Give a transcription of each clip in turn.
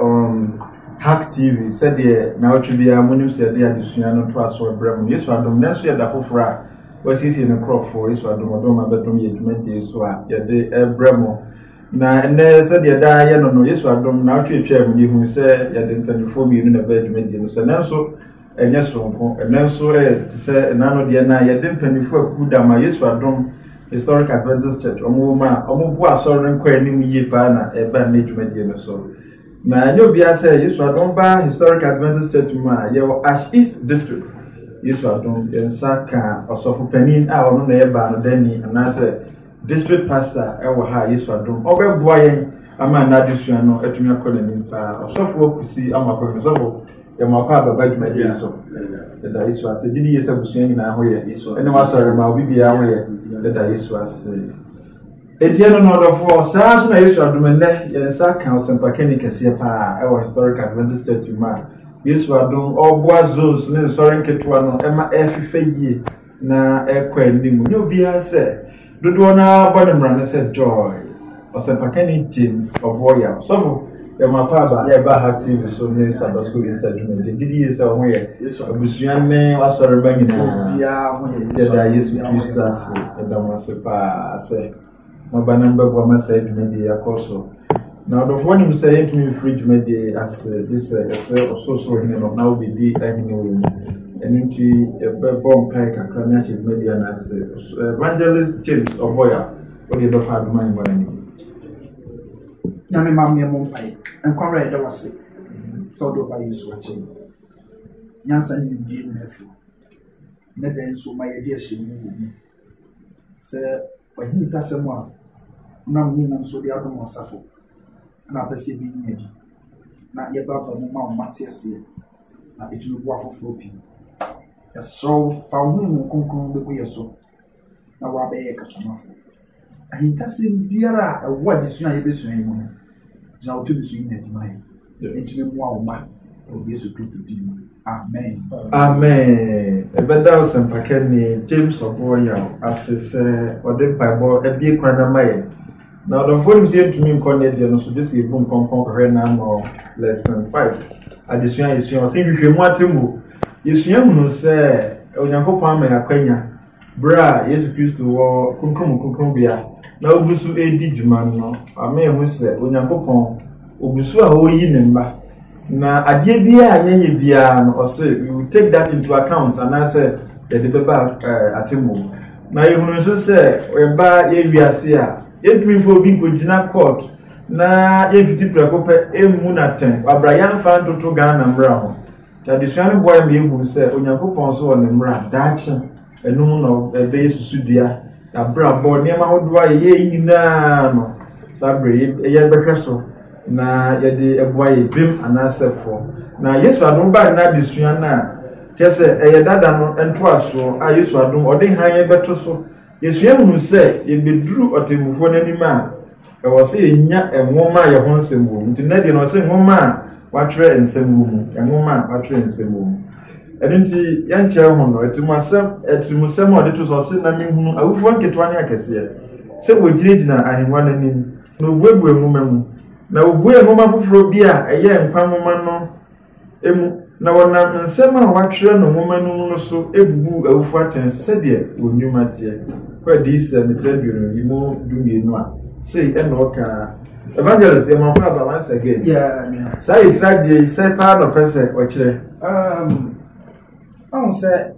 Um, Hack TV, sɛdeɛ naawɔtwe biara monim sɛ yɛde adesua no to aso brɛ mu. Yesu adom, nanso yɛ da foforɔ a wɔasiesie ne nkurɔfoɔ Yesu adom ɔdom ma bɛdom yɛ dwumadie so a yɛde brɛ mu. Na ɛnɛ sɛdeɛ daa yɛ no no, Yesu adom naawɔtwe atwa mu ne ɛhunu sɛ yɛde mpanimfoɔ mmienu na ɛbɛyɛ dwumadie no sɛ nanso Ɛnyɛ soronko, nanso ɛyɛ te sɛ nna no deɛ na yɛde mpanyinfoɔ akuw da ma Yesu Adom Historic Adventist Church wɔn wɔ mu a wɔboa asɔre no nkɔ anim yie paa na ɛba nnɛ dwumadie no so. Na ɛnyɛ obiara sɛ Yesu Adom ba Historic Adventist Church mu a yɛwɔ Ash East District. Yesu Adom yɛn nsa ka ɔsɔfo panin a ɔno na ɛbaa no dani anaasɛ District Pastor wɔ ha a Yesu adom ɔbɛboa yɛn ama n'adesua no atumi akɔ n'anim paa. Ɔsɔfoɔ Kusi Amoakɔ no sɔfo yɛ mo akɔ ababa dwumadie yi so. Yɛda Yesu ase. Gye di yie sɛ abusua nyinaa ho yɛ ɛne w'asɔre ma obi biara ho yɛ. Yɛda Yesu ase. Eti ɛno no ɔdɔfoɔ saa nso na Yesu adom nnɛ yɛn nsa aka ɔsɛmpakani kɛseɛ paa ɛwɔ Historic Adventist Church mu a Yesu adom ɔboa zones ne nsɔre nketewa no ɛma ɛfefɛ yie. na ɛrekɔ anim nyɛ obiara sɛ dodoɔ no ara bɔ ne mmara no sɛ joy ɔsɛmpakani james ɔboɔya sɔfo ɛma paaba a ɛba ha tv so ne sabbath school yɛ sɛ adwuma yɛ gyidi yie sɛ ɔho yɛ abusua ne asɔreba nyinaa yɛda yesu kristo ase ɛda mo ase paa sɛ Mo ba no bɛboa ma saa dwumadie yi akɔ so. Na ɔdɔfoɔ nim sɛ yɛntumi mfiri dwumadie yi ase gye sɛ ɛsɛ ɔsorosoro hene no na wobɛdi ahene wɔ mu. Ɛno nti yɛbɛbɔ mpae kakra na ahyɛ dwumadie no ase. Evangelist James Ɔbɔya, wode yɛbɛkɔ adom ahengua no anim. Nyame ma mmea mo mpae. Nkwa wura yɛda wase sɛ ɔde ɔba Yesu akyɛ yi. Nyansa ne nimdie nyina firi. Ne dɛn nso ma yɛde ahyɛ mu wɔ mu. Sɛ w'ahintasɛm a wonam ne nyinam so de adom asafo na wopɛ sɛ ebi nya di, na yɛbɛbɔ mu ma wɔn ate aseɛ, na ɛtumi boa afoforɔ pii. Yɛsrɛ wo fa wo honhom kronkron bɛgu yɛ so na woabɛyɛ kasamafo. Ahintasɛm biara a ɛwɔ adesua a yɛbɛsua yi mu no, Gyina wo tumi so yi n'adi ma yɛn. Ɛtumi mmoa wo mma wɔ Yesu Kristo din mu. Amen. Amen. Ɛbɛda ɔsɛmpakɛni James Ɔbɔɔyaw ase sɛ ɔde mpaebɔ abie kwan no ama yɛn. Na ɔdɔmfoɔ nim sɛ yɛntumi nkɔ ne deɛ no so gye sɛ yɛbu nkɔnkɔn kɔhwɛ n'ano lesson five adesua a yɛsua ɔse nhwehwɛmu atemmuo. Yɛsua hunu sɛ Onyankopɔn ama yɛn akwanya Bere a Yesu Kristo wɔ Kronkron mu Kronkronbea na ogu so redi dwuma no, ɔma yɛhu sɛ Onyankopɔn, ogu so a ɔreyi ne mma. Na adeɛ biara a yɛnyɛ biara no, ɔse, we will take that into account, anaasɛ yɛde bɛba eh, atemmuo mu. Na yɛhunu nso sɛ yɛba yɛ wiase a, yɛntumi mfa obi nkɔgyina court na yɛmfiti prɛko pɛ mmu no atɛn. Wabra yɛamfa ntoto Ghana mmara ho. Adesua no boae ma yɛhunu sɛ Onyankopɔn nso wɔ ne mmara, daakye, ɛno mu na ɛbɛyɛ susudua, abrabɔ, nneɛma ahodoɔ a yɛyɛ yi nyinaa no, saa berɛ yɛbɛhwɛ so na yɛde aboa yɛ bem anaasɛ poɔ. Na Yesu adom baa nna adesua no a kyerɛ sɛ ɛyɛ dada no ntoasoɔ a Yesu adom ɔde hann bɛto so Yesua hu sɛ yebeduru ɔtemmufo no anim a, ɛwɔ sɛ yenya nwoma a yɛn ho nsɛm wɔ mu. Nti nnɛ deɛ na ɔsɛ nwoma a wɔatwerɛ nsɛm wɔ mu, nwoma a wɔatwerɛ nsɛm wɔ mu. Ɛno nti yɛnkyerɛ ho no, atimuasɛm, atimusɛm a ɔde to so ɔsɛ na mehunu awufoɔ nketewa ne akɛseɛ sɛ wɔgyinagyina ahengua no anim, na wɔbuebue nwoma mu, na wɔbuee nwoma foforɔ bi a ɛyɛ nkwa nwoma no mu, na wɔnam nsɛm a wɔatwerɛ no nwoma no mu no so bubuu awufo atɛn sɛdeɛ wɔn nnwuma teɛ. Kɔ adiyisɛm tribune yi mu dumienu a sei ɛna ɔkaa evangelist yɛ mɔmpa aba once again yeah, saa yɛ tira deɛ yi sɛ paa na ɔpɛ sɛ ɔkyerɛ um, ɔhu sɛ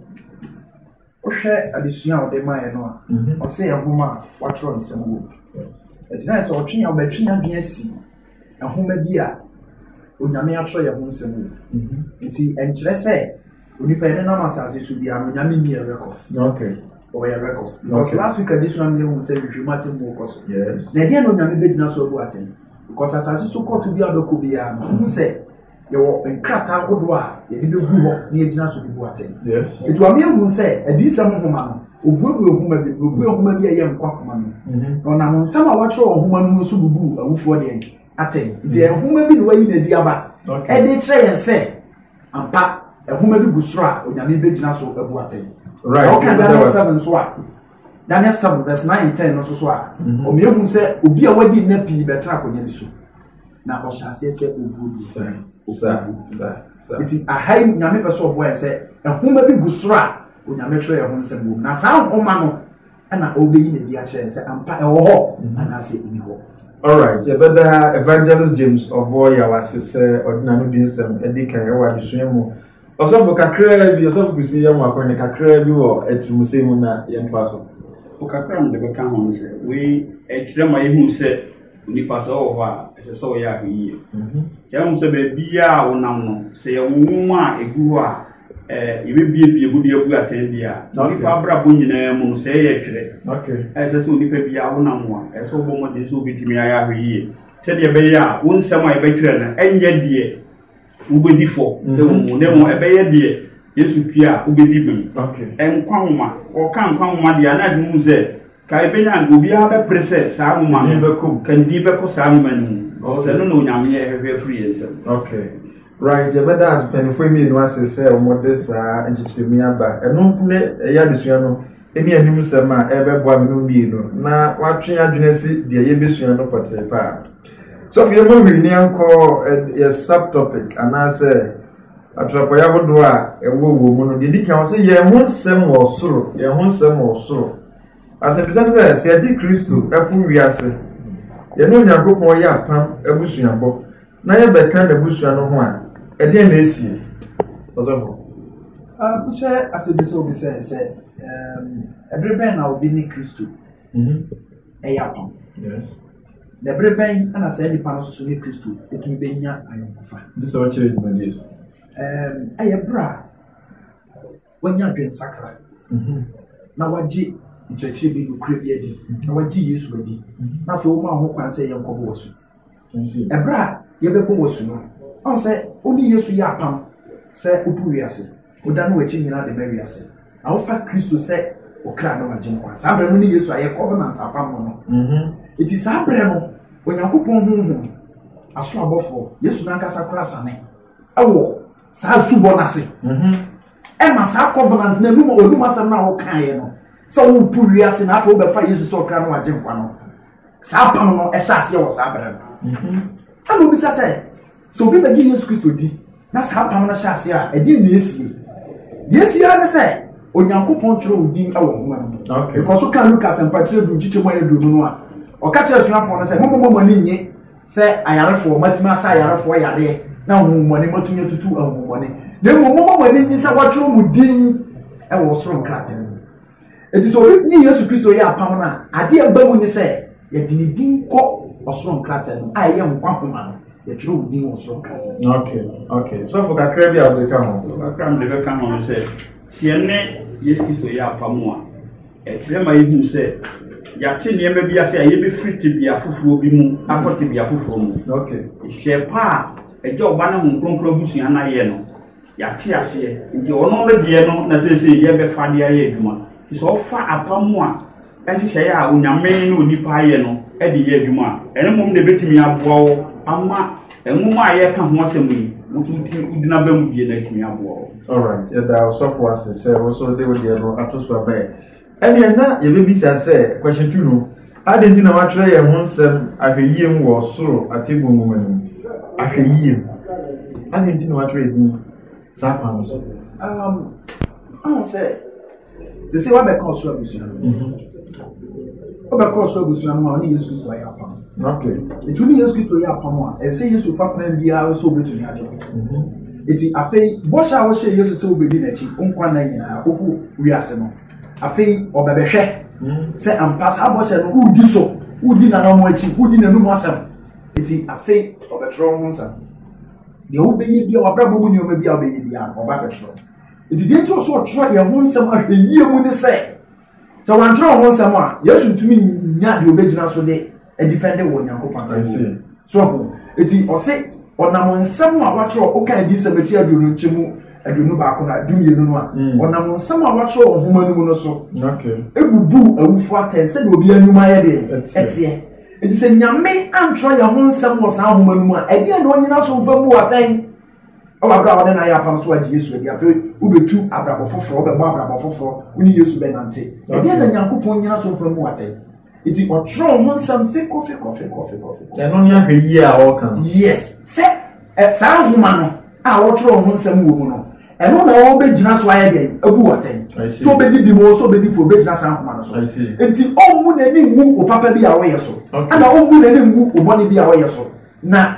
Wohwɛ adesua a ɔde mae no a, ɔse yɛ nhoma a wɔatwerɛ nsɛm wɔ mu. Ɛti na ayɛ sɛ ɔtwe ɔbɛtwe n'adwene asi nhoma bi a Onyame atwerɛ yɛ ho nsɛm wɔ mu. Nti ɛnkyerɛ sɛ onipa yɛ nenam asase so biara no Onyame nni yɛ records. Okay. Ɔyɛ records. Because okay. last week adesua no yɛhu sɛ nhwehwɛmu atem mu kɔ so. Yes. Na ɛdeɛ na Onyame bɛgyina so abu atem? Because asase so kɔto bi a bɛkɔ biara no, ɔhu sɛ yɛwɔ nkrataa ahodoɔ a yɛde bɛgu hɔ na yɛgyina so de bu atɛn ɛti wame ahu sɛ adiyisɛm nhoma no ɔbuebue nhoma bi ɔbue nhoma bi a ɛyɛ nkwa nhoma no mhm. na ɔnam nsɛm a wɔatwerɛ wɔ nhoma no mu nso bubu awufoɔ deɛ atɛn nti mhm. nhoma bi na wayi na adi aba ɛde kyerɛ yɛn sɛ ampa nhoma bi gu soro a onyame bɛgyina so abu atɛn ɔka daniel 7 nso a Daniel 7 verse 9 and 10 no nso so a mhm. wɔn ehu sɛ obi a wadi nna pii bɛtena akonnwa bi so na ɔhyɛ aseɛ sɛ obuo bi nti aha yi nyame pɛ sɛ ɔboa yɛ sɛ nhoma bi gu soro a onyame twerɛ yɛ ho nsɛm wɔ mu na saa nhoma no ɛna ɔbɛyi na bi akyerɛ sɛ ampa ɛwɔ hɔ mhm. anaasɛ ɛni hɔ alright yɛbɛda evangelist james ɔboɔ yɛ wase sɛ ɔde n'ano di nsɛm ɛdi kan ɛwɔ adesua mu Ɔsɔfo kakraa bi, ɔsɔfo Kwesi yɛ mmoakɔ ne kakraa bi wɔ atirimsɛm mu na yɛmfa so. Ɔkakra mede bɛka ho no sɛ wei ɛkyerɛ ma yɛhu sɛ onipa sɛ ɔwɔ hɔ a ɛsɛ sɛ ɔyɛ ahoyie. Mhm. Kyɛ mu sɛ baabiaa a wonam no sɛ yɛwo nwoma a ɛgu hɔ a yɛbɛbiebie mu de abu atɛn bi a onipa abrabɔ nyinaa mu no sɛ ɛyɛ ɛtwerɛ. Ɛsɛ sɛ onipa biaa wonam ho a ɛsɛ sɛ wobɔ mmɔden sɛ wobɛtumi ayɛ ahoyie sɛdeɛ ɛbɛyɛ a wo nsɛm a yɛbɛtwerɛ no ɛnyɛ deɛ wobɛdi fɔ wɔ mhm. mu na mmom ɛbɛyɛ deɛ yesu pie a wobɛdi bem nkwa nwoma ɔka nkwa nwoma deɛ ana adwene mu sɛ ka ɛbɛnya nka obiara bɛpere sɛ saa nwoma no kandi bɛkɔ saa nwoma no mu sɛ no na onyame ɛhwehwɛ afiri yɛn nsɛm right yɛbɛda mpanyinfoɔ mmienu ase sɛ wɔde saa nkyekyeremu aba ɛno ne ɛyɛ adesua no ɛne anim sɛm a ɛbɛboa mmienu mmienu na watwe adwene si deɛ yɛbɛsua no pɔtee paa So afei yɛbɔ hwee ne yɛnkɔ yɛ subtopic anaasɛ atrapɔyɛ ahodoɔ a ɛwɔ wɔ mu no deɛ di kan sɛ yɛn ho nsɛm wɔ soro yɛn ho nsɛm wɔ soro asɛmpisa no sɛ sɛ yɛde kristo ɛfo wiase yɛne onyankopɔn yɛ apam abusuabɔ na yɛbɛka n'abusua no ho a ɛdeɛ na ɛsie ɔsɔfo wohyɛ asɛ bi sɛ obi sɛ sɛ ɛbere bɛn na obi ne kristo ɛyɛ apam Na bere bɛn na saa nipa no soso ne Kristo tumi bɛnya ayɔnkofa? Nti sɛ ɔkyerɛ dwumadie so. Ɛyɛ berɛ a wanya adwensakra mhm. na wagye nkyerɛkyerɛ bi nokorɛ bi adi mhm. na wagye Yesu adi mhm. na afei woma ho kwan sɛ yɛnkɔbɔ wɔ so. Ɛberɛ a yɛbɛbɔ wɔ so no, ɔn sɛ wone Yesu yɛ apam sɛ wodu wiase. Wodane w'akyi nyinaa de ma wiase, na wofa Kristo sɛ okra ne w'agyenkwa. Saa berɛ no ne Yesu a yɛkɔ hɔ nante apamɔ no. Enti mhm. saa berɛ no, Onyankopɔn honhom, aso abɔfoɔ, Yesu n'ankasa kora sane wɔ saa asubɔ no ase. Mhm. Ɛma saa kɔbena n'anum a ɔnum asɛm no a wokaeɛ no, sɛ wopo wiase na afei wobɛfa Yesu sɛ ɔkra ne w'agyenkwa no. Saa apam no ɛhyɛ aseɛ wɔ saa berɛ no. Mhm. Ɛna obisa sɛ, Sɛ obi bɛgye Yesu Kristo di na saa apam no hyɛ ase a, ɛdeɛn na ɛsie? Deɛ ɛsie ara ne sɛ Onyankopɔn twerɛ wo din wɔ nwoma no mu. Ɛkɔ so ka Luka asɛmpakyerɛ du nkyekyɛ mu ayɛ duonu no a, ɔka kyerɛ asuafoɔ no sɛ, Mommɔ mo ani nnye sɛ ayarefoɔ, matumi asa ayarefoɔ yareɛ na ahonhommɔne matumi atutu ahonhommɔne, na mmom mommɔ mo ani nnye sɛ wɔatwerɛ mo din wɔ ɔsoro nkrataa mu. Enti sɛ obi ne Yesu Kristo yɛ apam no a, ade a ɛba mu ne sɛ yɛde ne din kɔ ɔsoro nkrataa no a ɛyɛ nkwa homa no yɛtwerɛ wo din wɔ ɔsoro nkrataa no. ok ok sɔfo kakra bi a wode ka ho. kakra mede bɛka ho no sɛ sɛ yɛne Yesu Kristo yɛ apam a ɛkyerɛ ma yɛhu sɛ yɛate nneɛma bi ase a yɛbɛfiri tebea foforɔ bi mu akɔ tebea foforɔ mu hyɛ pa a ɛgya ɔba ne ho kronkron abusua no ayɛ no Yɛate aseɛ, nti wɔn ɔmɛ deɛ no na seesei yɛbɛfa de ayɛ adwuma. Nti sɛ ɔfa apam a nhyehyɛeɛ a onyame ne onipa ayɛ no de yɛ adwuma a, ɛno mmom na ɛbɛtumi aboa wo ama nwoma a yɛka ho asɛm yi wotu wogyina ba mu die no atumi aboa wo. Alright, yɛda ɔsɔfo ase sɛ wo nso de wo deɛ no ato so ama yɛn. Ɛnneɛ na yɛbɛbisa sɛ, Kwashitu no, adɛn nti na wɔatwerɛ yɛn ho nsɛm ahwɛyie mu wɔ soro atemmuo nwoma no mu? Ahwɛyie mu? Adɛn nti na wɔatwerɛ yɛn din saa kwan no so? Um, ahụ sɛ te sɛ wabɛka ɔsoro abusua no wobɛkɔ ɔsoro abusua no ma ɔne yesu kristo ayɛ apam Okay. Nti ne Yesu Kristo yɛ apam a, ɛsɛ sɛ Yesu fa kwan biara so obetumi agye wo. Nti mhm. afei bɔhyɛ a wɔhyɛ Yesu sɛ wobedi n'akyi nkwa nna nyinaa koko wiase no, afei ɔbɛbɛhwɛ mhm. sɛ ampa saa bɔhyɛ no wodi so, wodi n'anam akyi, wodi n'anum asɛm. Nti afei ɔbɛtwerɛ ho nsɛm. Deɛ wobɛyɛ bia wabrabɔ mu nneɛma bi a wobɛyɛ bia ɔba bɛtwerɛ. Nti deɛ nti ɔso ɔtwerɛ yɛn ho nsɛm ahwɛ yie mu ne sɛ Sɛ wɔantwerɛ wo ho nsɛm a, Yesu ntumi nya deɛ ɔbɛgyina so de adifɛnde wɔ Onyankopɔn atemmuo mu. So ahu? Eti ɔse, ɔnam nsɛm a wɔatwerɛ, woka adiyisɛm akyi aduonu nkyɛmu aduonu baako na du mmienu no a, mm. ɔnam nsɛm a wɔatwerɛ wɔ nhoma no mu no so, ebubuu awufo atɛn sɛdeɛ obi anwuma ayɛ deɛ ɛteɛ. Eti sɛ Nyame antwerɛ yɛn ho nsɛm wɔ saa nhoma no mu a, ɛdeɛ na ɔnyina so mfa bu atɛn Ɛwɔ abere a wɔne no ayɛ apam so agye Yesu adi. Afei wobetu abrabɔ foforɔ, wɔbɛbɔ abrabɔ foforɔ, wo ne Yesu bɛnante. Ɛdeɛ na Nyankopɔn nyina so mfa mu watɛn. Nti ɔtwerɛ ho nsɛm fekɔ fekɔ fekɔ fekɔ fekɔ. Ɛno ne ahwɛ yie a ɔreka no. Yes, sɛ ɛ saa nhoma no a wɔtwerɛ ho nsɛm wɔ mu no, ɛno na ɔbɛgyina so ayɛ dɛn abu watɛn. So ɔbɛdi bi mu, so ɔbɛdi fo, ɔbɛgyina saa nhoma no so. Nti ɔmmu n'ani ngu wo papa bi a ɔyɛ so, ɛna ɔmmu n'ani ngu wo bɔne bi a ɔyɛ so. Na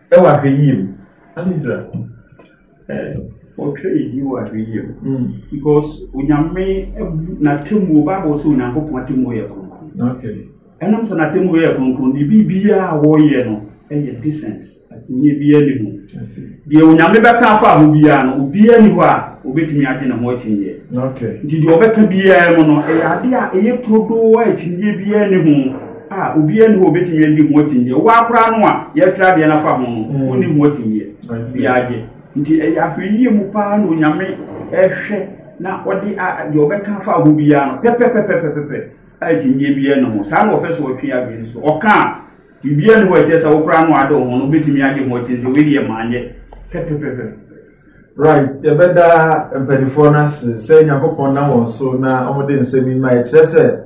Ɛwɔ ahwɛyie mu. Anidra ɔtwa ɛdi wɔ ahwɛyie mu hmm. because onyame n'atemmuo bible sɛ onyankopɔn atemmuo yɛ kronkron ɛnam sɛ n'atemmuo yɛ kronkron ne biribiara a wɔyɛ no ɛyɛ decent atemmuo biara ne mu deɛ onyame bɛka afa ho biara no obiara ni hɔ a obɛtumi agye ne ho akyinyeɛ nti deɛ ɔbɛka biara mu no ɛyɛ adeɛ a ɛyɛ turodoo a akyinyeɛ biara ne ho a obiara nni hɔ obetumi adi mu akyinnye ɔwaa koraa no a yɛatwerɛ adeɛ no afa ho no mm. wonni mu akyinnyeɛ biara gye nti ɛyɛ ahwɛyie mu paa na onyame ɛhwɛ na ɔde deɛ ɔbɛka afa ho biara no pɛpɛpɛpɛpɛpɛ a akyinnyeɛ biara ne ho saa na ɔpɛ so ɔtwe adwene so ɔka a biribiara ne hɔ ɛkyɛ sɛ wokora no ade ho no wobɛtumi agye ho akyinnye sɛ wei deɛ maanyɛ pɛpɛpɛpɛ right yɛbɛda mpanimfoɔ no ase sɛ nyankopɔn na wɔn so na wɔde nsɛm yi ma ɛkyerɛ sɛ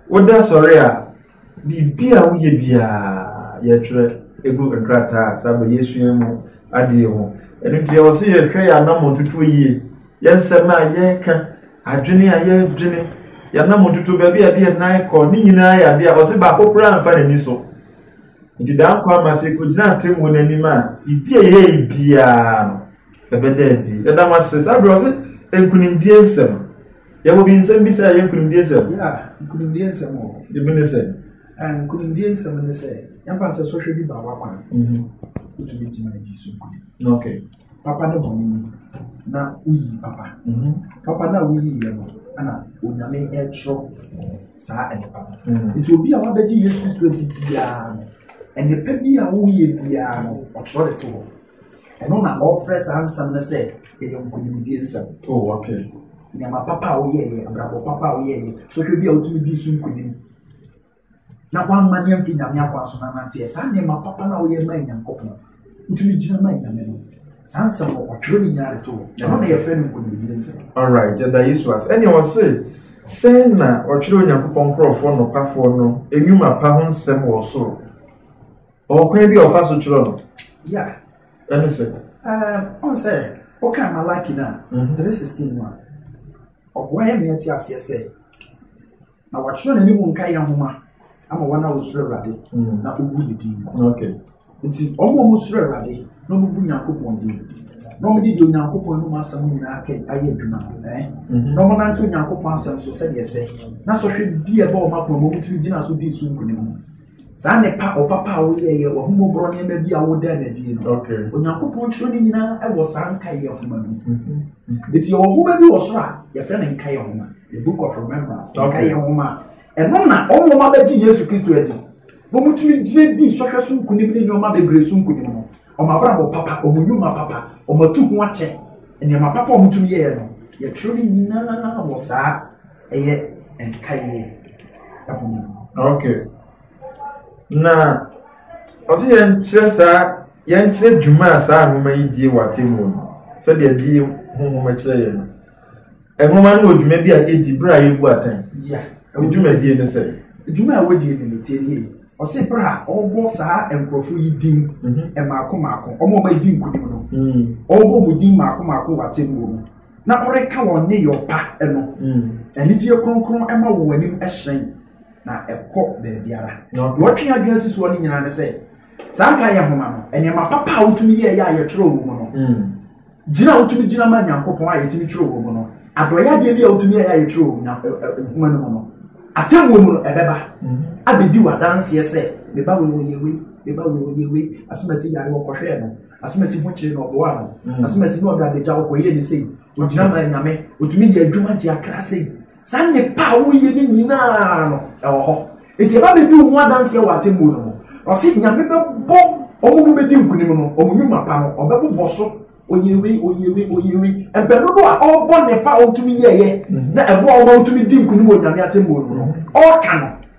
Woda sɔre a, biribi a woyɛ biara yɛtwerɛ egu nkrataa a saa bɛ yɛsua mu adeɛ ho. Ɛno nti ɛwɔ sɛ yɛhwɛ yɛn anammɔn tutuo yie, yɛn nsɛm a yɛka, adwene a yɛdwene, yɛn anammɔn tutuo, baabi a yɛde yɛn nan kɔ, ne nyinaa yɛ adeɛ a ɔse baako koraa mfa n'ani so. Nti daa nkwa ama sɛ yɛkɔgyina atemmuo no anim a, biribi a yɛyɛ biara no, Ɛbɛda adi. Ɛda mo ase. Saa berɛ ɔse nkunimdie nsɛm. Yɛwɔ bi nsɛm bi sɛ ɛyɛ nkunimdie nsɛm. Ya, nkunimdie nsɛm wɔ hɔ. Ebi ne sɛ. Eh, nkunimdie nsɛm ne sɛ yɛmfa sɛ sɔhwɛ bi baa w'akwan. Mhm. Wotumi gyina agyi so nkunim. Okay. Papa ne bɔne mu na woyi papa. Mhm. Papa no a woyi yɛ no ɛna onyame ɛtwerɛ saa nnepa no hmm. nti obi a wabɛgye yesu kristo di biara no nnepa bi a woyɛ biara no ɔtwerɛ de to hɔ Ɛno na wɔfrɛ saa nsɛm no sɛ ɛyɛ nkonimdie nsɛm. Oh, okay. Nneɛma papa a woyɛeɛ, abrabɔ papa a woyɛeɛ, sɔhwɛ bi a wotumi dii so nkonim. Na woamma ne amfi Nyame akwan so na nanteɛ. Saa nneɛma papa no a woyɛ ma Nyankopɔn, wotumi gyina ma Nyame no. Saa nsɛm no, ɔtwerɛ ne nyinaa de to hɔ. Ɛno na yɛfrɛ no nkonimdie nsɛm. All right, yɛda Yesu ase. Ɛnneɛ wɔse sɛn na ɔtwerɛ Onyankopɔn nkurɔfoɔ nokwafoɔ no nnwuma pa ho nsɛm wɔ soro? Ɔwɔ kwan bi a ɔfa so twerɛ no. Ya. Ɛne sɛ. Ɔn sɛ woka Malaki no a, mhm. three sixteen mu a, ɔboa yɛ mea te aseɛ sɛ na wɔatwerɛ no ne mu nka yɛ nhoma ama wɔn a wɔsuro Awurade mhm. na wɔbu ne din. Nti wɔn a wɔsuro Awurade na wɔbu Nyankopɔn din na wɔde di onyankopɔn anom asɛm nyinaa kɛ ayɛ adwuma ɛn mhm. na wɔnante onyankopɔn asɛm so sɛdeɛ sɛ na sɔhwɛ bi a ɛbɔ wɔn akoma wɔn tumi gyina so di so nkunim saa nnepa ɔpapa a woyɛeɛ w'ahummɔborɔ nneɛma bi a wodaa no adie no onyankopɔn twerɛ no nyinaa ɛwɔ saa nkaeɛ nhoma no ɛti mhm. mhm. yɛwɔ nhoma bi wɔ soro a yɛfrɛ no nkaeɛ nhoma the book of remembrance nkaeɛ nhoma ɛno na ɔmoma bɛgye yesu kristo adi wɔmutumi gyina di nsɔhwɛ so nkonim ne nneɛma bebree so nkonim no wɔn abrabɔ papa wɔn nnwuma papa wɔn atu ho akyɛ nneɛma papa wɔn tumi yɛɛ no yɛtwerɛ no nyinaa wɔ saa ɛyɛ ɛkeka yie ɛho mu. Okay. Na ɔsɛ yɛnkyerɛ saa yɛnkyerɛ dwuma a saa nwoma yi die wɔ atemmuo no sɛdeɛ die ho nwoma kyerɛ yɛn no nwoma no wɔ dwuma bi a ɛdi berɛ a yɛbu atɛn dwumadie no sɛ dwuma a wɔdie no metie nie ɔsɛ berɛ a ɔrebɔ saa nkurɔfoɔ yi din mhm. mmaako mmaako ɔma ɔma ɛdi nkonim no mhm. ɔrebɔ mu din mmaako mmaako wɔ atemmuo no na ɔreka wɔn nneyɔɔ pa no, mm. anigyeɛ kronkron ma wɔ w'anim hyerɛn na ɛkɔ baabiara. Deɛ ɔtwe adwene si soɔ no nyinaa ne sɛ, saa nka yɛ homa no, nneɛma papa a wotumi yɛ yɛ a yɛtwerɛ wɔ mu no, mm. gyina a wotumi gyina ma Nyankopɔn a yɛtumi twerɛ wɔ mu no, adɔyɛdeɛ bi a wotumi yɛ yɛ a yɛtwerɛ wɔ nhoma no mu no, atemmuo mu no ɛbɛba mm-hmm. abɛdi wɔ adanseɛ sɛ, meba wei wɔ yɛ wei, meba wei wɔ yɛ wei, asomasi yare wɔkɔhwɛɛ no, asomasi ho kyerɛ na ɔboa no mm. asomasi na ɔde adagya ɔkɔyɛ ne sei ogyina ma nyame otumi yɛ adwuma gye akra sei saa nnepa a woyɛ ne nyinaa no ɛwɔ hɔ eti ɛba bɛdi wo ho adanseɛ wɔ atemmuo no ho ɔse nyame bɛbɔ ɔmo mu bɛdi nkunim no ɔmo nnwuma pa no ɔbɛbobɔ so oyewe oyewe oyewe mpɛno do a ɔrebɔ nnepa a ɔtumi yɛyɛ mm-hmm. na ɛboa ɔmo a ɔtumi di nkunim wɔ nyame atemmuo no ho mm-hmm. ɔreka no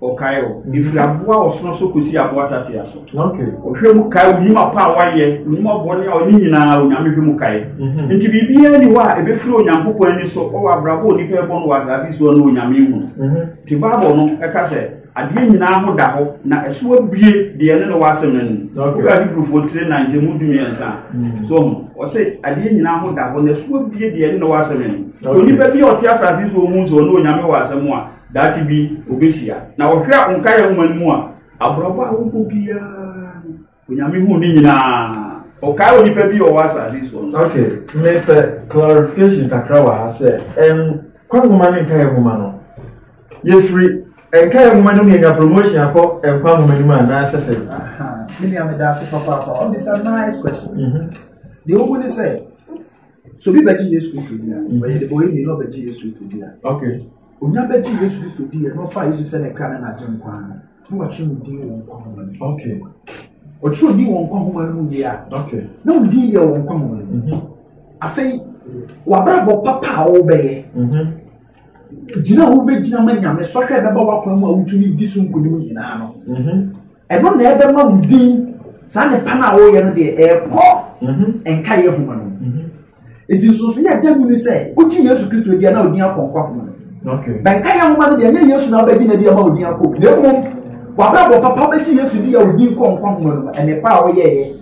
Ɔkae o. Mm-hmm. Efiri aboa ɔsono so kosi aboa tatea so. Ɔhwɛ mu kae onim apa a wayɛ, onim ɔbɔne a ɔne nyinaa onyame hwɛ mu kae. Mm-hmm. Nti biribiara ni hɔ a ebefiri Onyankopɔn ani so ɔwɔ abrabɔ onipa ɛbɔ no wɔ asase so no onyame hu. Mm-hmm. Te Bible no ɛka sɛ adeɛ nyinaa ho da hɔ na ɛso abue deɛ ne ne wɔ asɛm no ni. Woka Hebrewfoɔ tire na nkyɛmu du mmiɛnsa. So ɔmo ɔsɛ adeɛ nyinaa ho da hɔ na ɛso abue deɛ ne ne wɔ asɛm no ni. Onipa bi a ɔte asase so ɔhu sɛ ɔne onyame wɔ asɛm a Daakye bi obehyia. Na ɔhwɛ a nkaeɛ nwoma no mu a, aborɔbɔ a wobɔ biara no, Onyame hu ne nyinaa. Ɔkae onipa bi a ɔwɔ asase soɔ nso. Okay, mepɛ clarification kakra wɔ ha sɛ nkwa nwoma ne nkaeɛ nwoma no, yɛfiri nkaeɛ nwoma no mu yɛnya promotion akɔ nkwa nwoma no mu anaasɛ sɛ? Me nua meda ase papaapa, ɔbisa nice question. Mhm. Deɛ wohu ne sɛ, so bi bɛgye Yesu Kristo bi a, ɔyɛ de bɔ yɛ nyina ɔbɛgye Yesu Kristo bi a. Okay. Onya bɛgye Yesu Kristo di yɛ na ɔfa Yesu sɛ ne kra ne n'agye nkwa no na wɔatwerɛ ne din wɔ nkwa nwoma no. Okay. Ɔtwerɛ din wɔ nkwa nwoma no mu wie a. Okay. Na wɔn din deɛ wɔ nkwa nwoma no mu. Mhm. Afei w'abrabɔ papa a wɔbɛyɛ. Mhm. Gyina a wobɛgyina ma nyame sɔhwɛ bɛba w'akwan mu a wotumi di so nkonim nyinaa no. Mhm. Ɛno na ɛbɛma wo din saa nnepa no a wɔreyɛ no deɛ ɛrekɔ mhm. nkaeɛ homa no mhm. nti nsonso yɛ da mu ne sɛ wogye yesu kristo deɛ na odin akɔ nkwa homa no bɛnkaeɛ homa no deɛ ɛnyɛ yesu na wobɛgye na deɛ ma odin akɔ na mmom wabrabɔ papa wobɛgye yesu deɛ a odin kɔ nkwa homa no ɛnepa a woyɛeɛ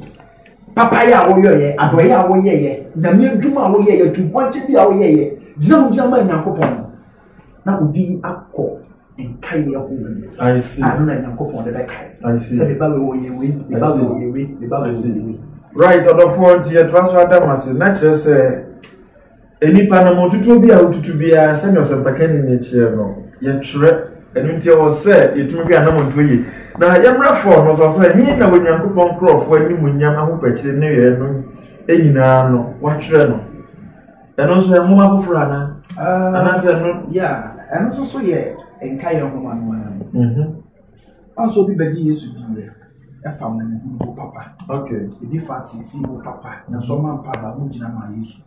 papayɛ a woyɛeɛ adɔeɛ a woyɛeɛ nyame adwuma a woyɛeɛ tumpɔnkye bi a woyɛeɛ gyina mu gyina ma nyankopɔn no na ɔde yi akɔ nkaeɛ ahorow mu a ɛno na nyankopɔn de bɛkae sɛ meba wei wɔyɛ wei meba wei wɔyɛ wei meba wei wɔyɛ wei right ɔdɔfoɔ nti yɛtra so adam ase na kyerɛ sɛ nnipa no motutuo bi a wotutu biara sɛnea ɔsɛmpakani ne kyerɛ no yɛtwerɛ ɛno nti ɛwɔ sɛ yɛtumi bi anamɔntuo yie na yɛmmerɛ fɔɔ no sɔ sɛ he na onyankopɔn nkurɔfoɔ animuonyam ahopɛkyere ne yɛɛ no nyinaa no watwerɛ no Ɛno nso yɛ nwoma foforɔ ana? Ah. Anaasɛ ɛno? Ya, ɛno nso so yɛ nka yɛ nwoma no ara. Mhm. Ɔnso obi bɛgye Yesu di yɛ ɛfa mu mu papa. Okay. Ebi fa titi mu papa. Nanso ɔma mpa ba mu gyina ma Yesu.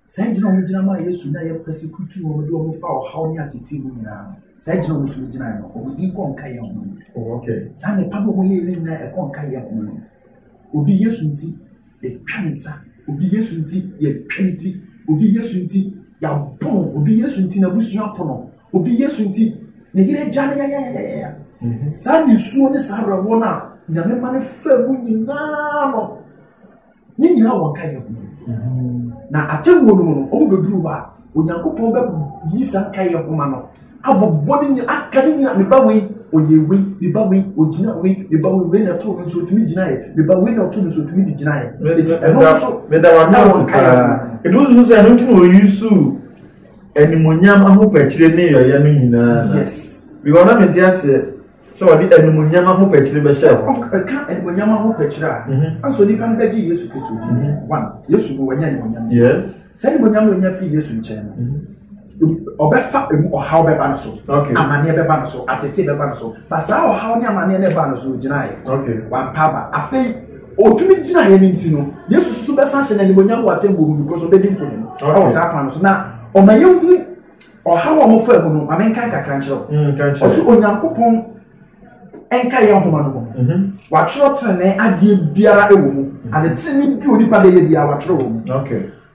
Saa gyina wɔn gyina ma Yesu na yɛ pɛsi kutu wɔn de wɔn fa ɔhaw ne atete mu nyinaa no. Saa gyina wɔn tumi gyina no wɔn di kɔ nka yɛ ho. Oh, okay. Saa nipa bi wɔn yɛ yɛ nyinaa ɛkɔ nka yɛ ho. Obi Yesu nti Yɛtwa ne nsa. Obi Yesu nti, yɛtwa ne ti. Obi Yesu nti, yɛabɔ no. Obi Yesu nti, n'abusua po no. Obi Yesu nti, ne yere gya no yayayayaya. Mhm. Saa nisuo ne saa awerɛhoɔ no a Nyame ma no fa mu nyinaa no, ne nyinaa wɔn ka yɛ ho. Mhm. Na atemmuo no mu no, wɔn bɛduru hɔ a, Onyankopɔn bɛyi saa nkaeɛ nhoma no abobɔ ne nyina aka ne nyina meba wei ɔyɛ wei meba wei ɔgyina wei meba wei wei na ɛtoo no nso ɔtumi gyinaeɛ meba wei na ɔtoo no nso ɔtumi de gyinaeɛ ɛno nso meda wada wɔ nkaeɛ nhoma ɛno nso sɛ ɛno nti na ɔyi su animonyam ahopɛkyerɛ ne yɔyɛ no nyinaa yes because na mente aseɛ sɛ ɔde animonyam ahopɛkyerɛ bɛhyɛ hɔ ɛka animonyam ahopɛkyerɛ a mhm. anso nipa no bɛgye yesu kristo di mhm. one yesu no wɔnyɛ animonyam yes sɛ animonyam a ɔnya firi yesu nkyɛn no ɔbɛfa emu ɔhaw bɛba no so amaneɛ bɛba no so atete bɛba no so na saa ɔhaw ne amaneɛ no ɛba no so ɔgyinaeɛ wampa aba afei ɔtumi gyinaeɛ no nti no yesu susu bɛsan hyɛ no animonyam wɔ atɛmmuo mu because ɔbɛdi nkonim ɛwɔ saa kwan no so na ɔma yɛhu ɔhaw a ɔmofa mu no ma menkan kakra nkyerɛ ɔso onyankopɔn ɛnka yɛn nhoma no mu. Mhm. Wɔatwerɛ tenenee adeɛ biara wɔ mu. Mhm. Ade tenenee bi onipa de yɛ biara wɔatwerɛ wɔ mu.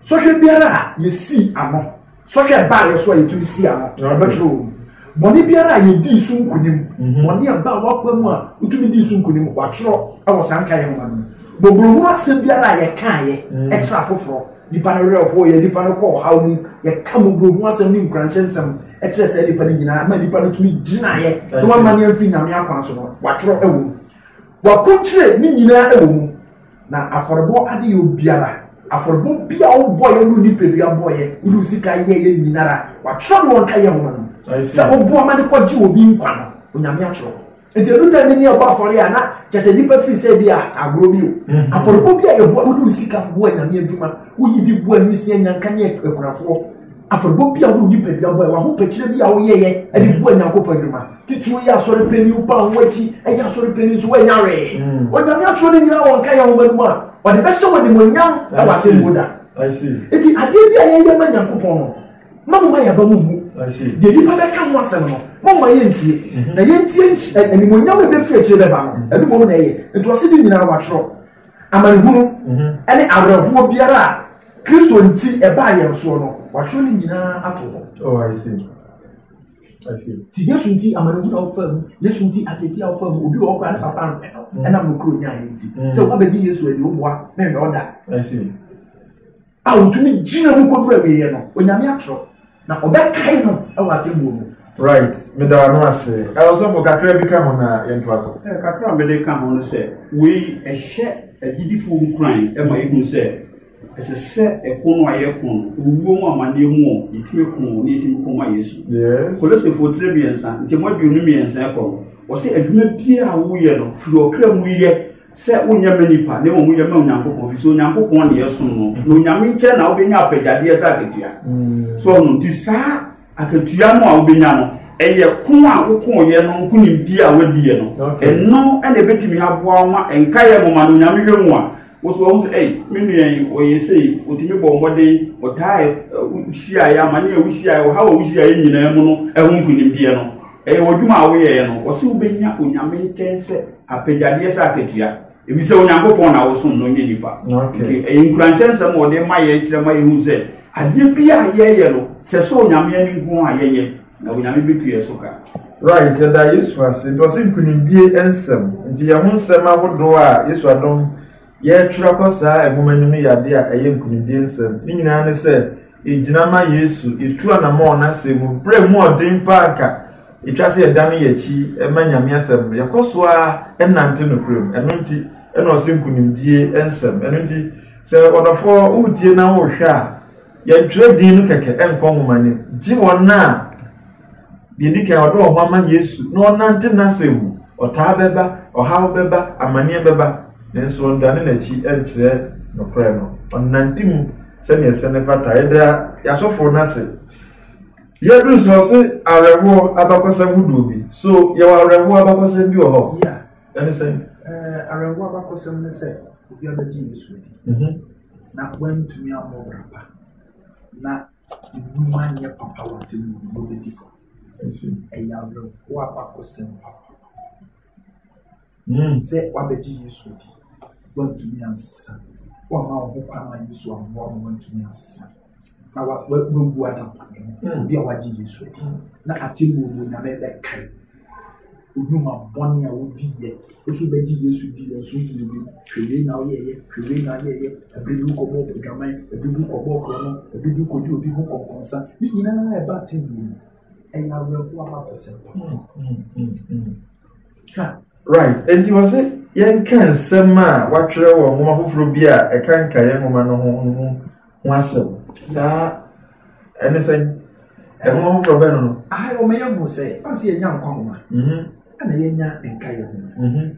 Sɔhwɛ biara a yɛsii ano, sɔhwɛ baa yɛ so a yɛtumi sii ano, wɔbɛtwerɛ wɔ mu. Bɔne biara a yɛdii so nkonim, mhm. bɔne a baa wɔakwa mu a wotumi dii so nkonim, wɔatwerɛ wɔ saa nka yɛn nhoma no mu. Bɔborohunu asɛm biara a yɛkaeɛ kyerɛ afoforɔ. Nnipa no werɛ hooyɛ, nnipa no kɔ ɔhaw mu, yɛka mmɔborɔ ho asɛm ne nkuranhyɛ nsɛm kyerɛ saa nnipa no nyinaa ma nnipa no tumi gyinaeɛ na wama ne amfi nyame akwan so no watwerɛ wɔ mu wakonkyerɛ ne nyinaa wɔ mu na afɔrebɔ ade yɛ obiara afɔrebɔ bi a wobɔeɛ no nipadua bɔeɛ wode sika yɛyɛ nyinara watwerɛ no wɔnka yɛ nwoma no sɛ wobɔ ama ne kɔgye obi nkwa no onyame atwerɛ Nti edu tɛm bi ne ɛbɔ afɔre a na kyɛ sɛ nipa firi sɛ bi a agorɔ bi o. Mm-hmm. Afɔrebɔ bi a yɛboa wode wo sika boa nyame adwuma woyi bi boa nwisia nyanka ne akunafoɔ. Afɔrebɔ bi a wode nipadua boa w'ahopɛkyerɛ bi a woyɛyɛ de boa nyankopɔn adwuma. Titiriw yɛ asɔre panyin wo ba wo akyi ɛyɛ asɔre panyin nso woanya wee. Mm. Onyame atwerɛ no nyinaa wɔnka yɛ nwoma no mu a ɔde bɛhyɛ wɔ nimonyam wɔ asɛm mu da. Nti adeɛ bi a yɛyɛ ma nyankopɔn no na mo ma yaba mo mmu deɛ nnipa bɛka ho asɛm no mo ma yɛntie mhm. na yɛntie eh, animonyam a ɛbɛfiri akyire bɛba no mhm. ɛno mmom na ɛyɛ nti ɔse ne nyinaa wɔatwerɛ amanehunu mhm. ne awerɛhoɔ biara a kristo nti ɛbaa yɛn soɔ no wɔatwerɛ ne nyinaa ato hɔ oh, ti yesu nti amanehunu a wofa mu yesu nti atete a wofa mu obi wɔ ɔkora ne papa no ɛnam no kuro nyaa yɛ nti sɛ woabɛgye yesu adi woboa ne nnɛ ɔda a wotumi gyina mu kɔduru awieeɛ no onyame atorɔ na ɔbɛkae no wɔ atemmuo mu right meda ano ase ɛwɔsɔfo kakra bi ka ho na yɛntoa so eh, kakra a mede ka ho no sɛ wei ɛhyɛ agyidifoɔ nkuran ma yɛhu sɛ ɛsɛ sɛ ɛko no a yɛko no owuo mu amanneɛ mu ɔ yɛtumi ko ne yɛtumi ko ma yesu kolosefo tire mmiɛnsa nkyɛmu aduonu mmiɛnsa ɛkɔ no ɔsɛ adwuma biara a woyɛ no firi ɔkra mu yɛ sɛ wonyɛ ma nipa na mmom woyɛ ma onyankopɔn fi sɛ onyankopɔn ne yɛsom no na onyame nkyɛn na wobɛnya apagyadeɛ sɛ akatua mm. so ɔno nti saa akatua no a wobɛnya no ɛyɛ ko a wokooyɛ no nkonimdie a wadiɛ no ɛno ɛna ɛbɛtumi aboa ma ɛnkaeɛ moma no onyame hwɛ mu a woso ɔho sɛ ei me nua yi ɔyɛ sei ɔtumi bɔ mmɔden ɔtaa hyiaeɛ amane a wohyiaeɛ ɔhaw a wohyiaeɛ nyinaa mu no ɛho nkonimdie no Ɛyɛ w'adwuma a woyɛeɛ no. Wɔse wobɛnya Onyame nkyɛn sɛ apɛgyadeɛ sɛ akatua. Efisɛ Onyankopɔn na wosom no, nyɛ nnipa. Nti ɛyɛ nkuranhyɛ nsɛm a wɔde ma yɛn kyerɛ ma yɛhu sɛ adeɛ biara a yɛyɛ no, sɛ ɛsɔ Onyame ani nko ara a yɛnyɛ, na Onyame bɛtu yɛn so ka. Right, yɛda Yesu ase nti ɔse nkunimdie nsɛm. Nti yɛn ho nsɛm ahodoɔ a Yesu adom. Yɛretwerɛ kɔ saa nwoma no mu yɛ adeɛ a ɛyɛ nkunimdie nsɛm. Ne nyinaa ne sɛ ɛgyina ma Yesu. Yɛtu anammɔn wɔ n'asɛm mu. Berɛ a ɛmu yɛ den pa ara a anka ɛtwa sɛ yɛdane yɛn akyi ma Nyame asɛm no, yɛkɔ so ara nante nokorɛ mu. Ɛno nti na ɔse nkunimdie nsɛm. Ɛno nti sɛ ɔdɔfoɔ woretie na worehwɛ a, yɛntwerɛ din no kɛkɛ nkɔ nwoma no mu. Gye wɔn a. Deɛ ɛdi kan, ɔde wɔn ama Yesu na ɔnante n'asɛm mu. Ɔtaa bɛba, ɔhaw bɛba, amaneɛ bɛba, nanso ɔndane n'akyi nkyerɛ nokorɛ no. Ɔnante mu sɛdeɛ ɛsɛ ne fata. Yɛda yɛasɔfoɔ no ase. Yɛduru sɛ ɔse awerɛhoɔ abakɔsɛm hodoɔ bi. So yɛwɔ awerɛhoɔ abakɔsɛm bi wɔ hɔ? Yeah. Ɛne sɛn? Eh, awerɛhoɔ abakɔsɛm ne sɛ obi abɛgye Yesu adi mhm. na wantumi ammɔ bra pa na Nnwuma nyɛ papa wɔ atemmu no mu bedi fɔ. Ɛyɛ awerɛhow abakɔsɛm papaapa. Sɛ woabɛgye Yesu adi, woantumi ansesa, woamma wo ho kwan ma Yesu ammoa wo, woantumi ansesa, na woabu adampɔnne ho. Obi a wagye Yesu adi no, na atemmu no Onyame bɛkae. Nnwuma bɔne a wodi yɛ. Woso bɛgye Yesu di yɛn so yie bi. Hwɛ wei na woyɛ yɛ, hwɛ wei na woyɛ yɛ. Ɛbere bi wokɔbɔ adwaman, ɛbere bi wokɔbɔ korɔno, ɛbere bi wokɔdi obi ho kɔnkɔnsa. Ne nyinaa ɛba aten mu. Ɛyɛ awerɛhoɔ abakɔsɛm. Right, enti wɔ se yɛnka nsɛm a wɔatwerɛ wɔ nwoma foforɔ bi a ɛkanka yɛn nwoma no ho no mu ho asɛm. Saa ɛne sɛn? Ɛho ahoforɔ bɛn no no? Ayi wɔn yɛ hu sɛ ɔsi yɛ nya nkwa nwoma. Ɛna yɛ nya nka yɛ nwoma.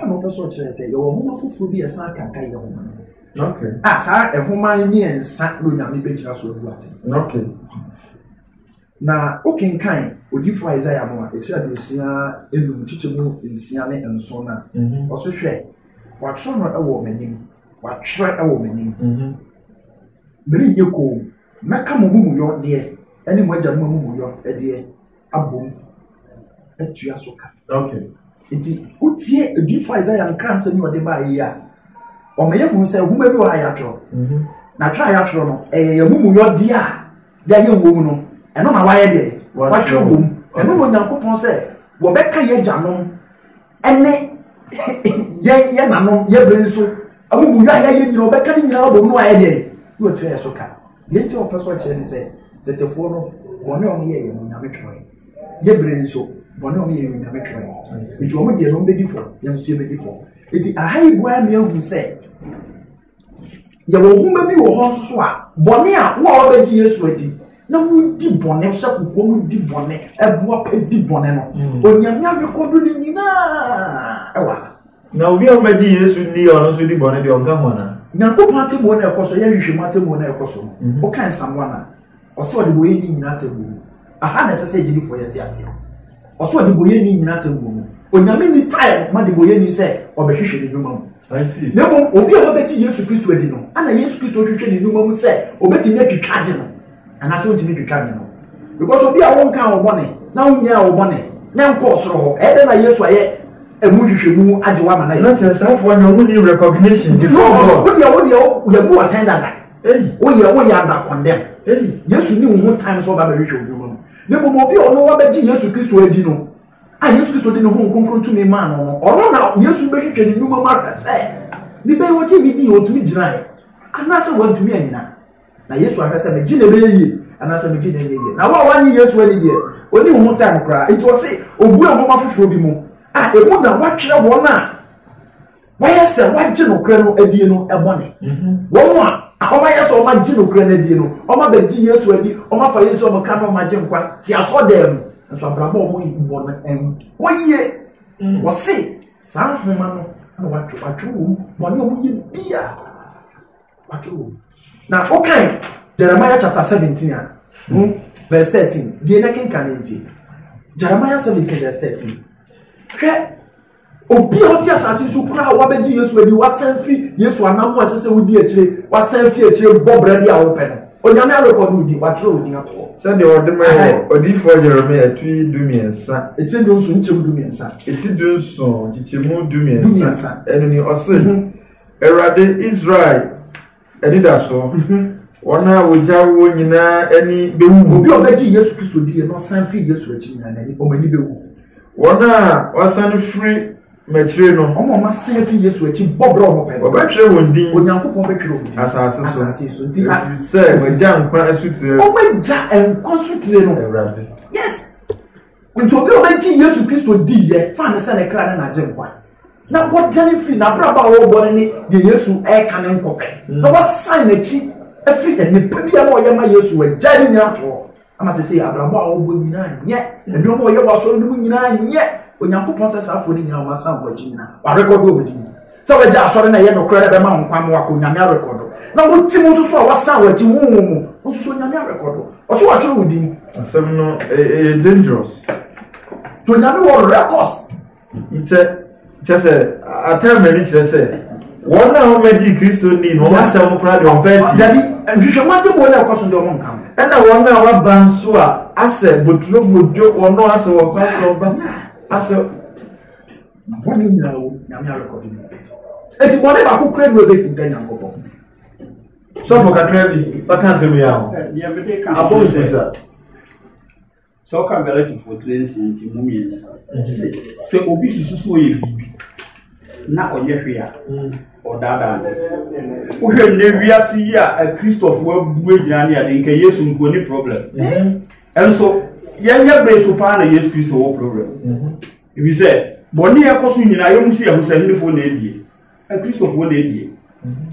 Ɛna ɔpɛ so ɔkyerɛ sɛ yɛ wɔ nwoma foforɔ bi yɛ san ka nka yɛ nwoma no. Okay. A saa nwoma mmiɛnsa na onyame bɛgyina so abu ate. Okay. Na wokenkan odiyifo Isaiah mo a etiri aduosia enum nkyekyɛ mu nsia ne nson no a, ɔse, Hwɛ, wɔatwerɛ no wɔ m'anim, wɔatwerɛ wɔ m'anim, merenyɛ koom, mɛka mo amumuyɔ deɛ ne mo agyanom amumuyɔ deɛ abom atua so ka. Okay. Nti wotie odiyifo Isaiah nkra nsɛm yi ɔde baa yi a, ɔma yɛhu sɛ nhoma bi wɔ a yɛatwerɛ. Mhm. Na atwerɛ a yɛatwerɛ no, ɛyɛ yɛn amumuyɔ deɛ a Yɛayɛ wom no, ɛno na wɔayɛ dɛn? Wɔatwerɛ wom. Ɛno na Onyankopɔn sɛ wɔbɛka yɛn agyanom ne yɛn yɛn nanom yɛn bere nso amumuyɔ a yɛayɛ nyina wɔbɛka ne nyinaa abom no ayɛ dɛn? Na wɔtua yɛ so ka. Deɛ nti a wɔpɛ so ɔkyerɛ ne sɛ tetefoɔ no bɔne a wɔyɛ yɛ no Onyame twerɛ. Yɛ bere nso bɔne a wɔyɛ yɛ no Onyame twerɛ. Nti wɔn deɛ no wɔbɛdi fɔ, yɛn nso yɛbɛdi fɔ. Nti aha yi bua mmea hu sɛ Yɛwɔ nwoma bi wɔ hɔ nso a bɔne a wo a wabɛgye Yesu adi na wodi bɔne hyɛ kɔkɔɔ mu di bɔne ɛboa pɛ di bɔne no hmm. onyame abekodo ne nyinaa ɛwɔ ha. na obi a ɔbɛgye Yesu ni a ɔno nso di bɔne deɛ ɔnka ho ana. nyankopɔn ateboɔ na ɛkɔ so yɛhwehwɛ mu ateboɔ na ɛkɔ so no ɔka nsamoa no a Ɔsɛ ɔdebɔyɛni nyina atemmuo mu. Aha na ɛsɛ sɛ agyidifoɔ yɛ te aseɛ. Ɔsɛ ɔdebɔyɛni nyina atemmuo mu. Onyame nni time ma debɔyɛni sɛ ɔbɛhwehwɛ ne nnwuma mu. Na mmom obi a wabɛgye Yesu Kristo adi no, ɛna Yesu Kristo hwehwɛ ne nnwuma mu sɛ ɔbɛtumi atwitwa agye no anaasɛ ɔntumi twitwa agye no. Because obi a wonkaa wo bɔne na wonyaa wo bɔne na nkɔɔ soro hɔ, ɛyɛ dɛn na Yesu ayɛ ɛmu nhwehwɛmu agye wo ama no ayɛ? Na kyerɛ saafoɔ no, wɔn nni recognition before God. Wodeɛ wodeɛ yɛbu atɛn dada. Woyɛ woyɛ adakɔndɛm. Yesu ni wo ho tan sɛ ɔba bɛhwehwɛ wo nnwuma mu. Na mmom obi a ɔno wabɛgye Yesu Kristo adi no, a Yesu Kristo de ne honhom kronkron tumi maa no no, ɔno na Yesu bɛhwehwɛ ne nnwuma mu ahwɛ sɛ ne bɛyɛ ɔgye ne dii, ɔtumi gyinaeɛ, anaasɛ wantumi anyina. Na Yesu ahwɛ sɛ megye na ɛbɛyɛ yie, anaasɛ megye na ɛnyɛ yie. Na wo a woanye Yesu ani deɛ, ɔni wo ho tan koraa. Nti ɔse, ɔbue nwoma foforɔ bi mu, a ɛmu na wɔatwerɛ wɔn a Wɔyɛ sɛ wɔagye nokorɛ no adie no bɔne. Mhm. Wɔn a wɔayɛ sɛ wɔagye nokorɛ no adie no, wɔabɛgye Yesu adi, wɔafa Yesu a wɔkra no wɔagye nkwa te asɔdɛɛ mu. Nso abrabɔ a wɔyi bɔ no nkɔ yie. Mm. Wɔse saa nhoma no na wɔatwe wɔatwe wɔn bɔne a wɔyɛ bia wɔatwe wɔn. Na wokan Jeremiah chapter seventeen a hmm, verse thirteen deɛ na kenkan ne nti Jeremiah seventeen verse thirteen hwɛ. Obi a ɔte asase so koraa a wabɛgye Yesu adi, wasan fi Yesu anammɔn a ɛsɛ sɛ wodi akyire, wasan fi akyire bɔ bra bi a wopɛ no, Onyame arekɔdo wo din, wɔatwerɛ wo din ato hɔ. Sɛdeɛ wɔde mae wɔ odiyifoɔ Yeremia ti dumiɛnsa. Ti dunson nkyekyɛmu dumiɛnsa. Ti dunson nkyekyɛmu dumiɛnsa. Dumiɛnsa. Ɛno ni, ɔse, mhm. Awurade Israel Anidaso, Wɔn a wogyaw wɔn nyinaa ani bewu. Obi a ɔbɛgye Yesu Kristo di na ɔsan fi Yesu akyi nyinaa n'ani wɔn ani bewu. Wɔn a wɔasan firi m'akyire no. Wɔn a wɔasan fi Yesu akyi bɔ bra wɔn pɛ. Wɔbɛtwerɛ wɔn din. Onyankopɔn bɛtwerɛ wɔn din. Asase so. Asase so. Nti a. Sɛ wɔagya nkwa asutire. Wɔagya nkwa asutire no. Awurade. Yes. Nti obi a ɔbɛgye Yesu Kristo di yɛ fa ne sɛ ne kra ne n'agye nkwa na wɔdwane firi n'abrabɔ a wɔrebɔ no ne deɛ Yesu ɛreka ne nkɔpɛ mm. na wɔsan n'akyi afiri nnipa bi a na ɔyɛ ma Yesu agya ne nyinaa toɔ ama sɛ sɛ abrabɔ a wɔbɔ nyinaa nyɛ nneɛma a ɔyɛ wɔ asɔre no mu nyinaa nyɛ Onyankopɔn sɛ saa afoɔ no nyinaa wɔn asan wɔn akyi nyinaa wɔarekɔdo wɔn akyi Sɛ wagya asɔre na ɛyɛ nokorɛ na ɛbɛma wo nkwa ma wakɔ Onyame arekɔdo na wo ti mu nso so a wasan wɔ akyi honhom mu wo nso so Onyame arekɔdo ɔso watwerɛ wo din. Asɛm no ɛyɛ dangerous. To Onyame wɔ records. Nkyɛ kyɛ sɛ atɛm ani kyerɛ sɛ wɔn a wɔbɛgye kristo ni na wɔn asɛm kora deɛ ɔbɛ ti. dabi nhwehwɛ mu ate wɔn a ɛkɔ so deɛ wɔn nka. ɛna wɔn a wɔaba nso a asɛ boturo bodwo wɔn asɛ wɔn kɔ asɛ ɔba asɛ. Na bɔne nyinaa wu, Nyame arekɔdo no ɔbɛdi. Enti bɔne baako kura bi ɔbɛdi nda Nyankopɔn. Sɔfo kakra bi, bɛka asɛm yi aho. Deɛ bɛde ka abɔ nsɛm sa. Sɛ ɔka Galatifoɔ tiri nsia nti mu mmiɛnsa. Sɛ obi susu so ɔyɛ biribi na ɔnyɛ hwee a, mm. ɔdaadaa no. Wohwɛ nnɛ wiase yi a Akristofoɔ abu agyina ne ade nka Yesu nkuo ne problem. Mm-hmm. Ɛnso yɛnyɛ bere so paa na Yesu Kristo wɔ problem. Mm-hmm. Efisɛ bɔne a ɛkɔ so nyinaa yɛn mu si yɛn ho sɛ Hindufo na ebie, Akristofoɔ na ebie.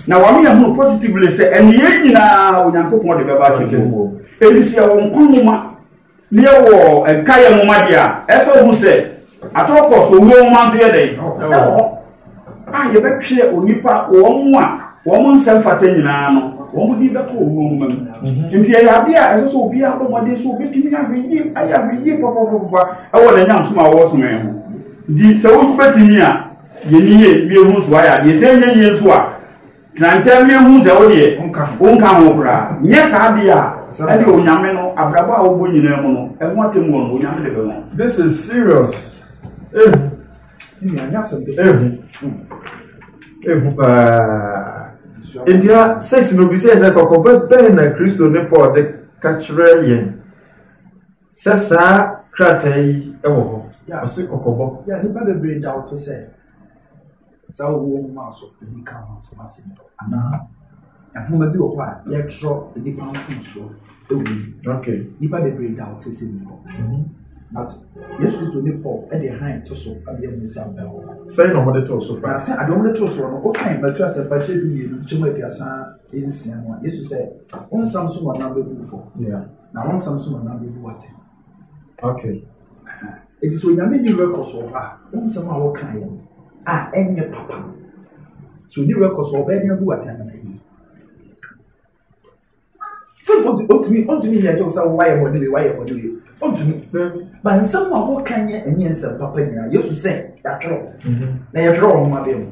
Na wɔama yɛn ho positively sɛ ɛne yɛn nyinaa Onyankopɔn de bɛba atwam mu. Enti sɛ yɛwɔ nkwa nwoma na yɛwɔ nkaeɛ nwoma deɛ a, ɛsɛ sɛ wohu sɛ atɔ kɔ so owuo nwoma nso yɛ dɛn? Ɛwɔ hɔ. a yɛbɛtwerɛ onipa wɔn a wɔn nsɛ mfata nyinaa no wɔn de bɛkɔ wɔn nwoma mu mhm. nti ɛyɛ adeɛ a ɛsɛ sɛ obiara bɔ mmɔden so obɛtumi ahwɛyie ayɛ ahwɛyie papapapa ɛwɔ ne nyam som a wɔsom ɛ ho nti sɛ wobɛtumi a yɛni yɛ wie ho so ayɛ adeɛ sɛ nyɛ yie nso a trankyɛ wie ho sɛ wodeɛ wonka ho koraa nyɛ saa adeɛ a ɛne onyame no abrabɔ a wobɔ nyinaa mu no ɛho atɛmu wɔ no onyame de bɛma this is serious eh. ehu paa edua six no bi sɛ ɛsɛ kɔkɔbɛ bɛn na kristo ne paul de ka kyerɛ yɛn sɛ saa krataa yi wɔ hɔ ɔse kɔkɔbɔ yɛ nipa bebree da ɔte sɛ saa owuo nwoma so ebi ka ho asɛm asɛm anaa Nhoma bi wɔ hɔ a yɛtwerɛ nnipa ho mfomsoɔ wɔ mu. Okay. Nnipa bebree da ɔte sɛ mu hɔ. Mhm. But Yesu Kristo ne Paul de hann to so abea mu sɛ abɛn hɔ. Sɛn na wɔde too so fa? Na sɛ ade wɔde too so no, wokan Matthew asɛmpa kyerɛ du mmienu nkyɛmu aduasa nsia no a, Yesu sɛ, Wo nsɛm so na ɔnam bɛbu wo fɔ, na wo nsɛm so na ɔnam bɛbu wo atɛn. Okay. It is onyame ni records wɔ hɔ a nsɛm a wɔka yɛ no a ɛnyɛ papa no so ni records wɔ ɔbɛn abu atan na yi sɛ ɔtumi ɔtumi yɛ ɛkyɛw sɛ wayɛ bɔ ne bi wayɛ bɔ ne bi ɔtumi ba nsɛm a wɔka nyɛ ɛnyɛ nsɛm papa nyinaa yesu sɛ yɛatwerɛ na yɛtwerɛ wɔn ma bɛn mu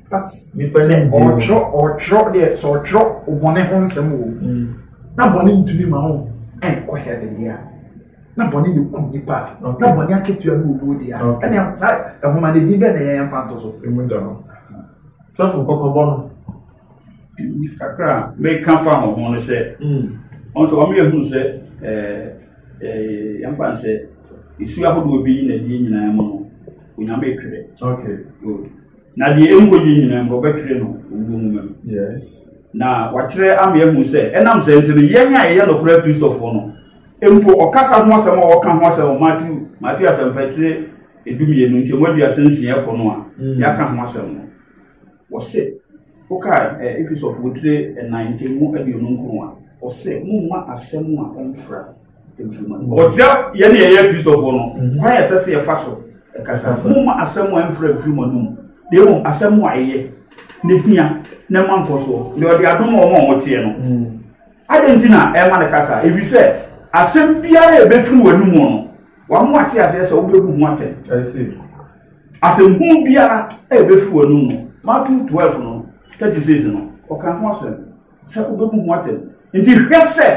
sɛ ɔtwerɛ ɔtwerɛ deɛ sɛ ɔtwerɛ ɔbɔne ho nsɛm wɔ mu mm. na bɔne ntumi ma ho ɛnkɔ heaven deɛ na bɔne yɛ kum nipa na bɔne akatua no owuo deɛ ɛne saa ɛhoma no din bɛɛ na ɛyɛ yɛmfa nto so sɛfo kɔkɔbɔ no kakra meka fa ho ho no sɛ mm. ɔn sɛ ɔmo yɛhunu sɛ yɛmfa n sɛ ɛsu ahodoɔ bi yi na ɛdeɛ nyinaa mu no onyame twerɛ Na deɛ ɛnkɔ yie nyinaa mu wɔbɛtwerɛ no owuo nwoma mu. Yes. Na wɔakyerɛ ama yɛahu sɛ ɛnam sɛ nti no yɛn a yɛyɛ nokorɛ Kristofoɔ no mpo ɔkasa ho asɛm a wɔka ho asɛm wɔ Matthew Matthew asɛmpatrɛ edumienu nkyɛmu aduasa nsia ɛkɔ no a mm. yɛaka ho asɛm no wɔse woka eh, Efesɔfoɔ tire ɛnan nkyɛmu aduonu nkron a wɔse momma asɛm a ɛmfra ɔkyerɛ yɛn ne yɛyɛ kristofoɔ no mhm. kwan ɛsɛ sɛ yɛfa so ɛkasa moma asɛm a ɛmfrɛ mfiri mu anom na mmom asɛm a ɛyɛ ne hia na ɛma nkɔsoɔ na ɔde adom wɔn a wɔteɛ no mhm. adɛn nti na ɛma no kasa ɛfiri sɛ asɛm biara a ɛbɛfiri w'anom no wɔn ate aseɛ sɛ wobɛbu ho atɛn asɛm hu biara a ɛbɛfiri w'anom no mato 12 no 36 no ɔka ho asɛm Sɛ obebu ho atɛn. Enti hwɛ sɛ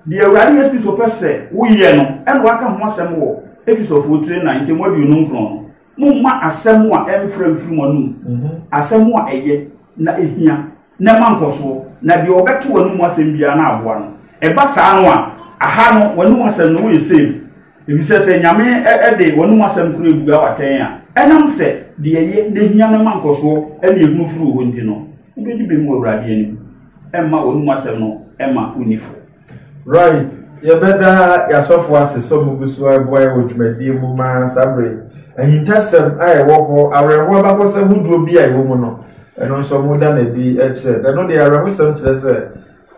deɛ Awurade Yesu Kristo pɛ sɛ woyɛ no na waka ho asɛm wɔ Efesofo tire nnan nkyɛmu aduonum nkron no. Momma asɛm a ɛmfra mfiri mo anom, mhm. asɛm a ɛyɛ na ehia na ɛma nkɔsoɔ, na deɛ ɔbɛte w'anom asɛm biara na aboa no. Ɛba saa no a, aha no w'anom asɛm no woyɛ save. Efisɛ sɛ Nyame de w'anom asɛm koro abua wo atɛn a, ɛnam sɛ deɛ ɛyɛ na ehia no ma nkɔsoɔ ne ehunu firi wo hɔ nti no, wobɛdi bem wɔ Awurade anim. Ɛmma w'anom asɛm no mma wonni fɔ. Right, yɛbɛda yɛn asɔfo ase sɛ wɔgu so reboa yɛn wɔ dwumadie mu ma saa berɛ yi. Ahintasɛm a ɛwɔ hɔ, awerɛhoɔ abakɔsɛm hodoɔ bi a ɛwɔ mu no, ɛno nso wɔda no adi kyerɛ. Ɛno deɛ, awerɛhosɛm kyerɛ sɛ.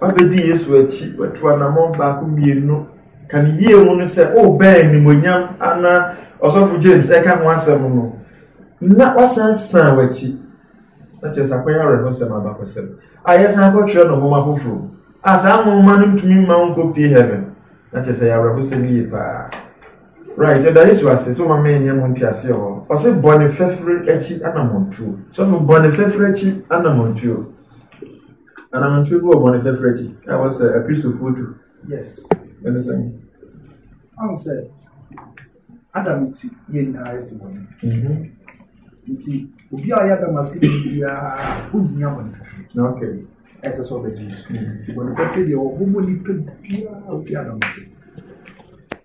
Wabedi Yesu akyi, watu anammɔn baako mmienu. Ka ne yie ho no sɛ ɔrebɛn oh, nimonyam ana ɔsɔfo James ɛka ho asɛm no na wasan san w'akyi na kyerɛ sɛ akɔyɛ awerɛhosɛm abakɔsɛm a yɛsan kɔtwerɛ no nwoma foforɔ a saa nwoma no ntumi mma wo nkɔpie heaven na kyerɛ sɛ yɛ awerɛhosɛm yie paa right ɛda yesu ase so ma menyɛ mo nteaseɛ hɔ ɔse bɔne fɛfere akyi anammɔntuo sɔfo bɔne fɛfere akyi anammɔntuo Anamɔntwe gu ɔbɔne fafiri akyi a ɛwɔ sɛ Akristofoɔ tu. Yes. Ɛne sɛn? Ahu sɛ Adam ti yɛ nyinaa yɛ te bɔne. Mhm. Nti obi a ɔyɛ Adam ase ni biara ohia bɔne fafiri. Okay. Ɛsɛ sɛ ɔbɛgye. Mhm. Nti bɔne fafiri deɛ ɔbobɔ nipa biara obi Adam ase.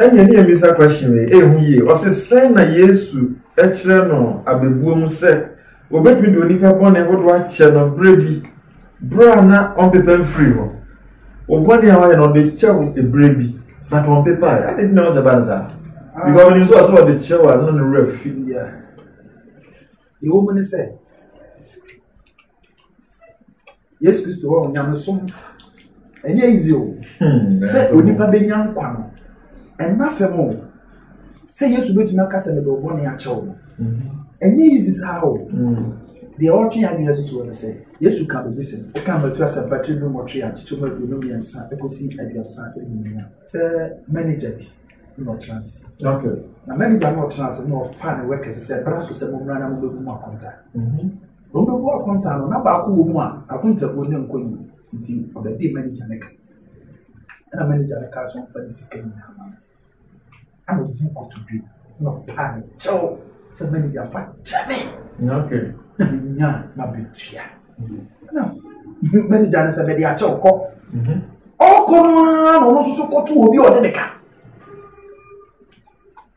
Ɛnneɛ ne yɛmmisa question wei, ɛyɛ ho yie, ɔse sɛn na Yesu kyerɛ no abɛbuo mu sɛ wɔbɛtumi de onipa bɔne hodoɔ akyɛ no berɛ bi, berɛ a na ɔmpepa mfiri hɔ? Wo bɔne a wayɛ no ɔde kyɛ wo berɛ bi, but ɔmpepae, adɛn nti na wɔsɛ ba no saa? Because ɔnim sɛ ɔsɛ ɔde kyɛ wo a na ne werɛ fi. Ɛwɔ mu ne sɛ. yesu kristo hɔ nyamesom ɛnyɛ easy o hmm, sɛ onipa bɛnya nkwa no ɛmma fam o sɛ yesu bɛtumi aka sɛ mede ɔbɔ ne akyɛw no hmm. ɛnyɛ easy saa o hmm. deɛ ɔtwe adwene susuo no sɛ yesu ka biribi sɛ woka mmatu asɛmpa tiri no mmɔtwe a kyekyɛ mu aduonu mmiɛnsa ɛkɔsi aduasa ɛnumia sɛ manager bi na ɔtena ase na manager na ɔtena ase na ɔfa ne wɛkɛse sɛ bra so sɛ mommra na mobɛbu mu akɔnta Na ɔbɛbu akonta no, na baako wɔ mu a akontabuo no nkɔ yie nti ɔbɛdee manigya no ka. Ɛna manigya no kaa sɛ ɔmfa ne sika nyinaa ma no. Ɛna ɔyi kotodwe na ɔpaa ne kyɛw sɛ manigya fa kyɛ me na menya m'abatua. Ɛna manigya no sɛ bɛde akyɛw kɔ. Mhm. Ɔkɔ no ara na ɔno nso kɔto obi a ɔde ne ka.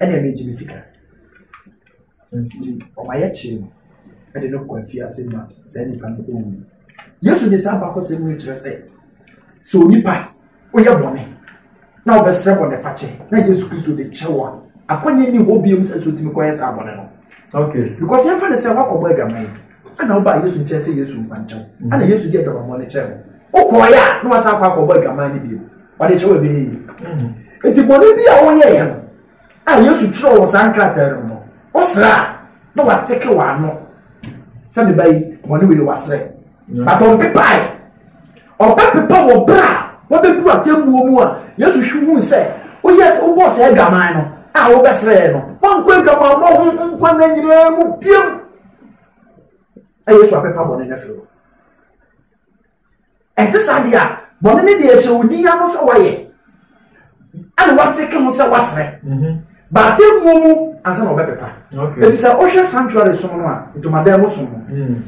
ɛne ɛne gye me sika nti ɔma yɛkyee no ɛde no kɔ afiase ma saa nipa no ɔwu yesu de saa bakɔsɛm no kyerɛ sɛ sɛ onipa woyɛ bɔne na wobɛsrɛ bɔne fakyɛ na yesu kristo de kyɛ wo a akɔnyɛ ni hɔ biom sɛ so tumi kɔyɛ saa bɔne no okay because yɛmfa ne sɛ woakɔbɔ adwaman ɛna wobaa yesu nkyɛn sɛ yesu mpankyɛw ɛna yesu de adwamammɔ no kyɛɛ wo wokɔɔyɛ a na wasan akɔ akɔbɔ adwaman no bio ɔde kyɛ wɔ bɛyɛ yi nti bɔne bi a wɔyɛ yɛ no a yesu twerɛ wɔ saa nkrataa no no wosra a na wateke wɔ ano sɛ meba yi bɔne wei wasrɛ but ɔmpepae ɔbɛpepa wɔ berɛ a wɔbɛdu atemmuo mu a yesu hwe hu sɛ woyɛ sɛ wobɔɔ sɛ adwaman no a wobɛsrɛɛ no wankɔ adwaman ma ho nkwa na nyinaa mu biam ɛyɛ so apepa bɔne no afiri hɔ Ɛte saa deɛ a, bɔne no deɛ ɛhyɛ wo din ano sɛ woayɛ, ɛna woateke ho sɛ woasrɛ. Mhm. Ba atemmuo mu ansa na wɔbɛpepa. Ɛti sɛ wohwɛ sanctuary som no a, ntomadan mu som no. Mm.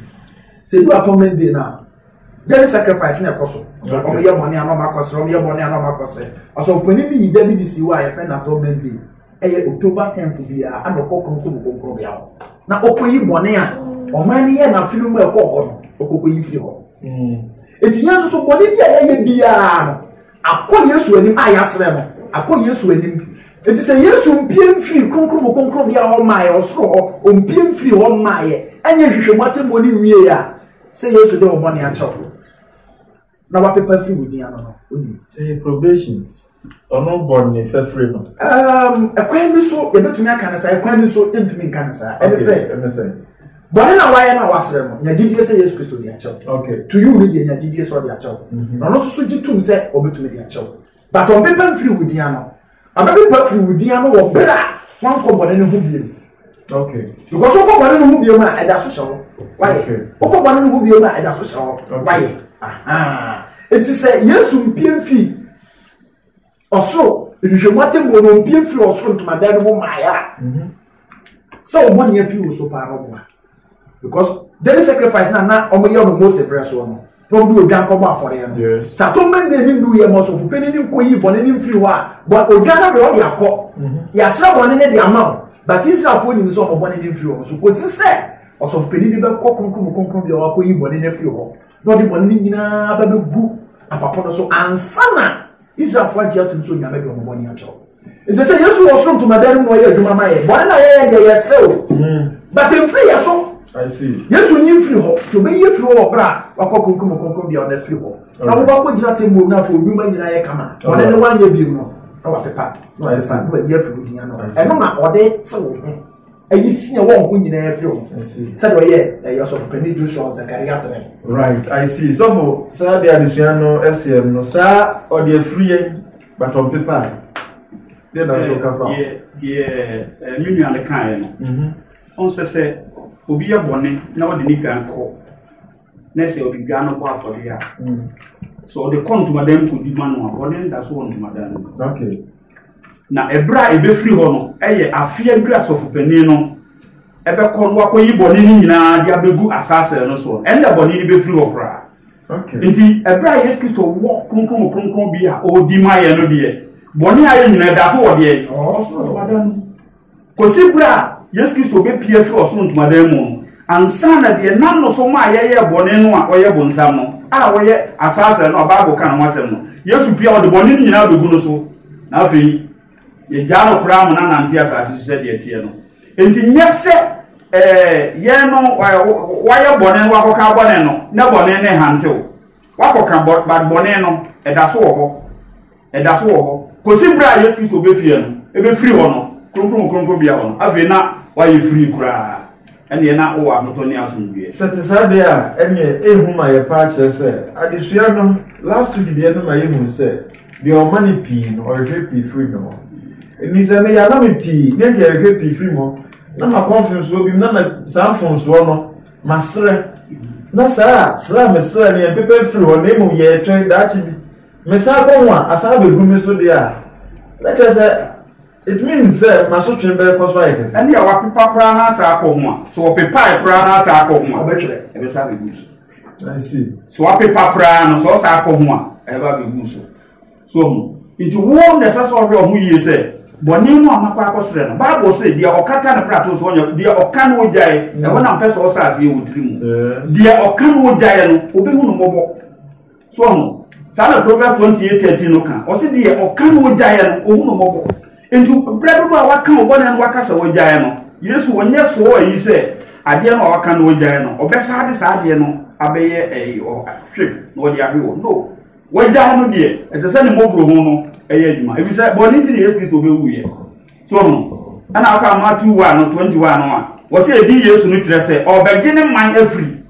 Sɛ du atonement day no a, yɛde sacrifice na ɛkɔ so so wɔn yɛ bɔne anɔ ɔmo akɔsrɛ wɔn yɛ bɔne anɔ ɔmo akɔsrɛ ɔsɛ ɔpanyin bi yi da bi de si hɔ a yɛfrɛ no atonement day Ɛyɛ October tenth biara ana ɔkɔ kronkron mu kronkron bea hɔ na ɔkɔyi bɔne a ɔman no yɛ n'afe no mu a ɛkɔɔ hɔ no ɔkɔkɔyi firi hɔ. Hmm. Eti yɛn nso so bɔne bi a yɛyɛ biara no akɔ Yesu anim a yɛasrɛ no akɔ Yesu anim eti sɛ Yesu mpie mfiri kronkron mu kronkron bea hɔ maa yɛ ɔsoro hɔ ɔmpie mfiri hɔ maa yɛ ɛnyɛ nhwehwɛ mu atɛmɔ ne nwie a sɛ Yesu de ɔbɔne akyɛw na wapepa afiri wo din ano no wonim. ɛyɛ probation ɔno bɔ ne fɛfiri no. ɛkwan bi so yɛbɛtumi aka no saa ɛkwan bi so yɛntumi nka no saa ɛne sɛ bɔne na wayɛ na wasrɛ no nya gyidie sɛ yesu kristo de akyɛw to you ne deɛ nya gyidie sɛ ɔde akyɛw na ɔno nso so gye tom sɛ ɔbɛtumi de akyɛw but ɔmpepa mfiri wo din ano Ɔbɛpepa firi wo din ano wɔ berɛ a woankɔ bɔne no ho biom. Okay. Because wokɔ bɔne no ho biom a ɛda so hyɛ wo wayɛ. Wokɔ bɔne no ho biom a ɛda so hyɛ wo wayɛ. Eti sɛ Yesu mpie mfiri ɔsoro nhwehwɛmu atemmuo no mpie mfiri ɔsoro ntomadan no mu mmaeɛ a sɛ ɔbɔ nea firi wo so paa no boa. because daily sacrifice na na wɔn yɛ wɔn mose brɛ soɔ no na wɔn de odwan kɔbɔ afɔreɛ no sɛ atonement day ne ndu yɛ ma ɔsɔfo panyin ne nkɔ yi bɔne ne mfiri hɔ a bɔ odwan no de ɔde akɔ mhm. yasra bɔne ne de ama o but israelfoɔ nim sɛ wɔn bɔne ne mfiri wɔn so kɔsi sɛ ɔsɔfo panyin ne bɛkɔ kronkron mu kronkron bi a wakɔ yi bɔne ne afiri hɔ na ɔde bɔne ne nyinaa bɛbɛgu apapɔ no so ansa na Israelfo agye atom sɛ Onyame de wɔn bɔne akyɛ wɔn. Nti sɛ Yesu wɔ soro ntomadan no mu ɔyɛ adwuma ma yɛn. Bɔne na yɛyɛ deɛ yɛsrɛ o. Hmm. But mfiri yɛ so. Yesu nyi mfiri hɔ. Nti obɛyi afiri hɔ wɔ berɛ a wakɔ kronkron mu kronkron bia ɔna afiri hɔ. Na wo wakɔ gyina te mu na afei odwuma nyina yɛ kama. Bɔne ne wanyɛ bi mu no. Na wapepa. Na wapepa. Na wayi afiri hɔ gyina no. Ɛno na ɔde te wo ho. ɛyi fi a wɔn ho nyinaa firi ho sɛdeɛ ɔyɛ ɛyɛ ɔsɔfopanin joshua ɔsɛkari atena. right i see sɔfo saa de adesua no ɛsɛ no saa ɔde afiri yɛn batɔn pepa a deɛ na nso kafa. deɛ ɛɛ mi nua no kan yɛ no ɔn sɛ sɛ obi yɛ bɔnne na ɔde ne gan kɔ. na sɛ ɔde dwa no bɔ afɔdeɛ a mm. sɛ ɔde kɔ ntomadan mu kɔdi ma no a ɔne nda so wɔ ntomadan no na ɛberɛ a ɛbɛfiri hɔ no ɛyɛ afeɛ aduru asɔfopanin no ɛbɛkɔ no wakɔyi bɔne no nyinaa de abɛgu asaasɛ no soɔ ɛnna bɔne no bɛfiri hɔ koraa nti ɛberɛ a yesu kristo wɔ kronkron kronkron bi a ɔdi ma yɛ no deɛ bɔne a yɛ nyinaa da so wɔ deɛ ɔsoro ntomadan mu Kɔsi berɛ a Yesu Kristo bɛpue afiri ɔsoro ntomadan mu no, ansa na deɛ nam no so maa yɛyɛɛ bɔne no a ɔyɛ bonsam no, a ɔyɛ asaasera no a Bible ka ne ho asɛm no, Yesu pue a ɔde bɔne no nyinaa bɛgu no so, na afei yɛgyaa no koraa ma no anante asase so sɛdeɛ ɛteɛ no. Enti nyɛ sɛ ɛɛ yɛn no ɛɛ wayɛ bɔne no wakɔka bɔne no na bɔne no rehantew. Wakɔka bɔ but bɔne no ɛda so wɔ hɔ. Ɛda so wɔ hɔ kɔsi berɛ a Yesu Kristo bɛfie no, ɛbɛfiri hɔ no, kronkron kronkronbea hɔ no, afei na woayɛ firii koraa, ɛnneɛ na wowɔ ahotɔ ne asomdwoeɛ. Sɛ ɛte saa deɛ a, ɛnneɛ ɛyɛ hu ma yɛn paa kyerɛ sɛ, adesua no last week deɛ no ma yɛhunu sɛ, deɛ ɔma no pii no, ɔrehwɛ pii firi ne hɔ. Ɛnti sɛ meyɛ ama me pii, ne deɛ ɛrehwɛ pii firi hɔ, na makɔ mfomsoɔ bi mu, na ma saa mfomsoɔ no, maserɛ. Na saa a, serɛ a meserɛ no, yɛmpepɛ mfiri hɔ, na mmom yɛretwɛn daakye bi, Mesan kɔ ho a, asan abegu me so deɛ a, na kyerɛ sɛ it means sɛ m'asotwe bɛkɔ so ayɛ kɛse. Ɛne a wapepa koraa na asan akɔ ho a, sɛ ɔpepae koraa na asan akɔ ho a, ɔbɛtwerɛ, ɛbɛsan abɛgu so. I see. Sɛ wapepa koraa no, sɛ ɔsan akɔ ho a, ɛba abɛgu so. So ɔho. Nti wo na ɛsɛ sɛ ɔhwɛ ɔho yie sɛ bɔne no a makɔ akɔsrɛ no, Bible se deɛ ɔkata ne prato so ɔnyɛ, deɛ ɔka no ɔgyae, ɛhɔ na mpɛ sɛ ɔsɛ aseɛ wɔ tiri mu. Deɛ ɔka no ɔgyaeɛ no, ɔbɛhu no mmɔbɔ. So ɔho, saa na Proverbs twenty eight thirteen no ka. Ɔsi deɛ ɔka no ogyaeɛ no, ohun no mmɔbɔ. Nti brɛ dodo a waka wo bɔne no waka sɛ wogyaeɛ no, Yesu ɔnyɛ soo ayi sɛ adeɛ no a waka no ogyaeɛ no, ɔbɛsa de saa adeɛ no abɛyɛ ɛyi ɔhwe na ɔde ahwe wɔ. No, wagyae no deɛ, ɛsɛ sɛ ne mmɔborɔhu no ɛyɛ adwuma. Efisɛ bɔne nti na Yesu Kristo bɛwuiɛ. So no, ɛna ɔka Matthew 1 no 21 no a, wɔsɛ ɛdi Yesu no kyerɛ sɛ ɔbɛgye ne man afiri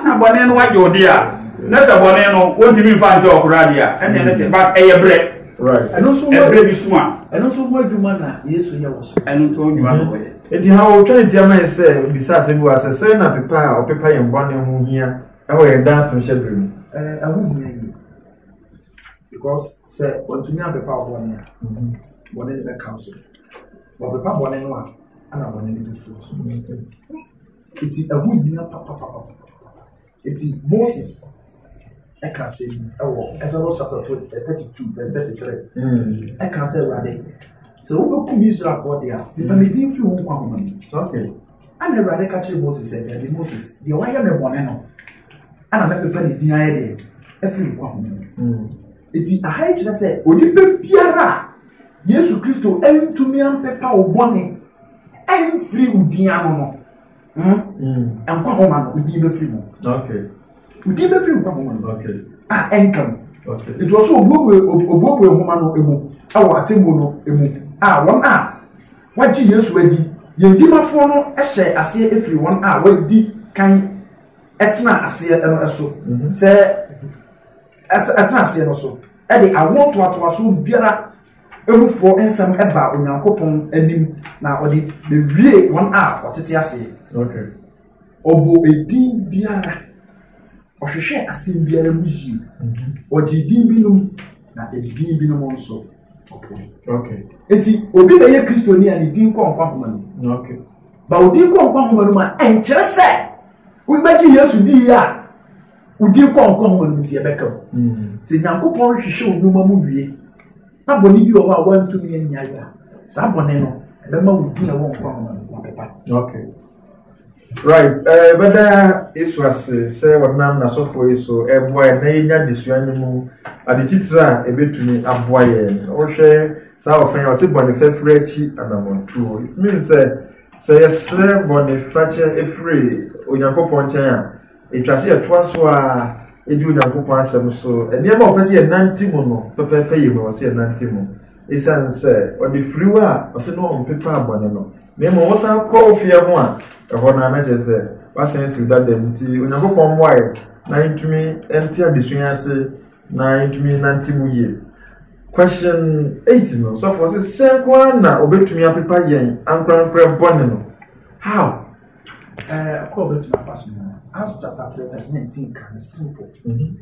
na bɔne no wagye ɔde a na sɛ bɔne no wɔntumi mfa nkyɛ ɔkora adeɛ a ɛneɛ no kyɛ but ɛyɛ berɛ ɛberɛ bi so a ɛno nso ho adwuma na yesu yɛ wɔ so ɛno nso ho adwuma na wɔyɛ enti ha wɔtwa ne tiama yɛ sɛ bisa asɛ bi wɔ asɛ sɛ na pepa a ɔpepa yɛn bɔne ho hia ɛwɔ yɛn daa to hyɛ berɛ mu ɛho hia yi because Sɛ wɔntumi apepa wo bɔne a, bɔne no bɛka wo so. Wɔpepa bɔne no a, ana bɔne no bɛfi wo so. Eti ɛho hia papapapa. Eti Moses ɛka sɛ yi ɛwɔ Exodus chapter thirty two verse thirty three. Mm. Ɛka sɛ Awurade sɛ wobɛkum Israelfoɔ deɛ a, mepɛ me din firi wo nkwa ho ma me. Ɛna Awurade ka kyerɛ Moses sɛ, Dabi Moses, deɛ wayɛ me bɔne no, ɛna mɛpepa ne din ayɛ deɛ afiri nkwa ho. Hmm. Eti aha yi kyerɛ sɛ onipa biara a Yesu Kristo ntumi ampepa wo bɔne ɛmfiri wo din ano no, hmm? Hmm. nkwa ho ma no, wo din bɛfiri mu. Wo din bɛfiri nkwa ho ma no, a ɛnka mu. Nti ɔso obuebue obuebue nhoma no emu ɛwɔ atemmuo no emu a wɔn a Wɔagye Yesu adi. Yɛn Dimafoɔ no hyɛɛ aseɛ firii wɔn a wɔadi kan tenaa aseɛ no so sɛ ɛtena aseɛ no so de awoɔ ntoatoasoɔ biara mufoɔ nsɛm baa Onyankopɔn anim na ɔde bɛwiee wɔn a wɔtete aseɛ. Ɔbɔɔ edin biara, ɔhwehwɛɛ asɛm biara mu yie, mhm. ɔgyee din binom na edin binom nso ɔpoe. Eti obi na ɛyɛ kristoni a ne din kɔ nkwa homa no mu. Ba odin kɔ nkwa homa no mu a ɛnkyerɛ sɛ wobɛgye Yesu di yie a odin kɔ nkwa homa no mu ti ɛbɛka mu. Mhm. Sɛ Nyankopɔn rehwehwɛ onwuma mu wie na bɔne bi wɔ hɔ a wantumi anyae a saa bɔne no ɛbɛma wo din a ɛwɔ nkwa homa no mu apepa. Right, eh, yɛbɛda Yesu ase sɛ ɔnam n'asɔfoɔ yi so ɛboa yɛn na yɛnya adesua no mu ade titire a ɛbɛtumi aboa yɛn. Wohwɛ saa ɔfɛ a ɔse bɔne fɛfiri akyi anammɔntuo. It means sɛ sɛ yɛsrɛ bɔne fakyɛ ɛfiri Onyankopɔn nkyɛn a, ɛtwa sɛ yɛtoa so a ɛdi Onyankopɔn asɛm so. Nneɛma a ɔpɛ sɛ yɛnante mu no pɛpɛɛpɛ yɛ mu a ɔsɛ yɛnante mu. Esiane sɛ ɔde firiw a ɔsɛ na ɔmpepa bɔne no, na mmom ɔsan kɔ ofie ho a ɛhɔ no na kyerɛ sɛ wasan asiw dada mu nti, Onyankopɔn mmoae na yɛntumi nte adesua yi ase na yɛntumi nnante mu yie. Question eight no, sɔfoɔ sɛ sɛ nko ara na obetumi apepa yɛn ankorankorɛ bɔne no. How? Ɛɛ, kɔ obetumi afa so no. Acts chapter three verse nineteen kan simple.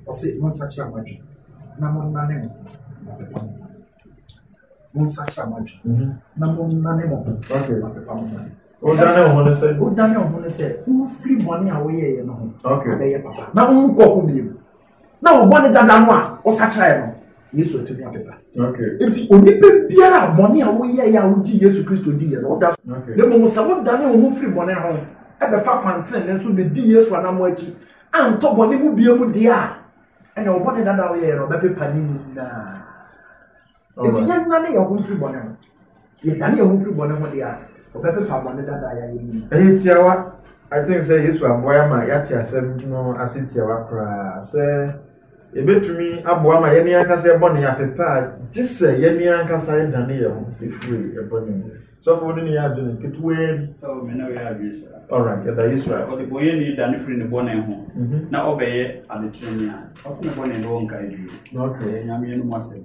Ɔsɛ, Monsakyera mo adwene. na monnane mo ho ma pepa mo ho. Monsakyera mo adwene, na monnane mo ho ma pepa mo ho. Wodane wo ho ne sɛ? Wodane wo ho ne sɛ wofiri bɔne a woyɛeɛ no ho abɛyɛ papa na wonkɔ ho bio. Na wo bɔne dada no a wosakyeraeɛ no, Yesu atumi apepa. Nti onipa biara a bɔne a woyɛeɛ a wogye Yesu Kristo diiɛ no woda so. Na mmom sɛ wodane wo ho firi bɔne ho ɛbɛfa kwanten ne nso bɛdi Yesu anamo akyi antɔ bɔne mu bia mu deɛ a ɛna ɔbɔne dada a ɔyɛɛ no ɔbɛpepa ne nyinaa nti yɛnnane yɛn ho mfiri bɔne ho yɛdane yɛn ho mfiri bɔne ho deɛ a ɔbɛpepa bɔne dada a yɛayɛ nyinaa ɛyɛ tiawa i think sɛ yesu aboa yɛ ma yɛate asɛm no ase tiawa koraa sɛ yɛbɛtumi aboa ma yɛne ankasa ɛbɔne apepɛ a gye sɛ yɛne ankasa ɛdane yɛn ho ɛfiri ɛbɔne mu sɔfo wo ne ne yɛ adwene ketewaa bi oh, me ne wo yɛ adwene saa alright ɛda yesu ase ɔde bɔyɛ ne da ne firi ne bɔne ho mhm. na ɔbɛyɛ adekyerɛni a ɔfo ne bɔne ne wɔnka adwiri ɛyɛ nyameɛ no mu asɛm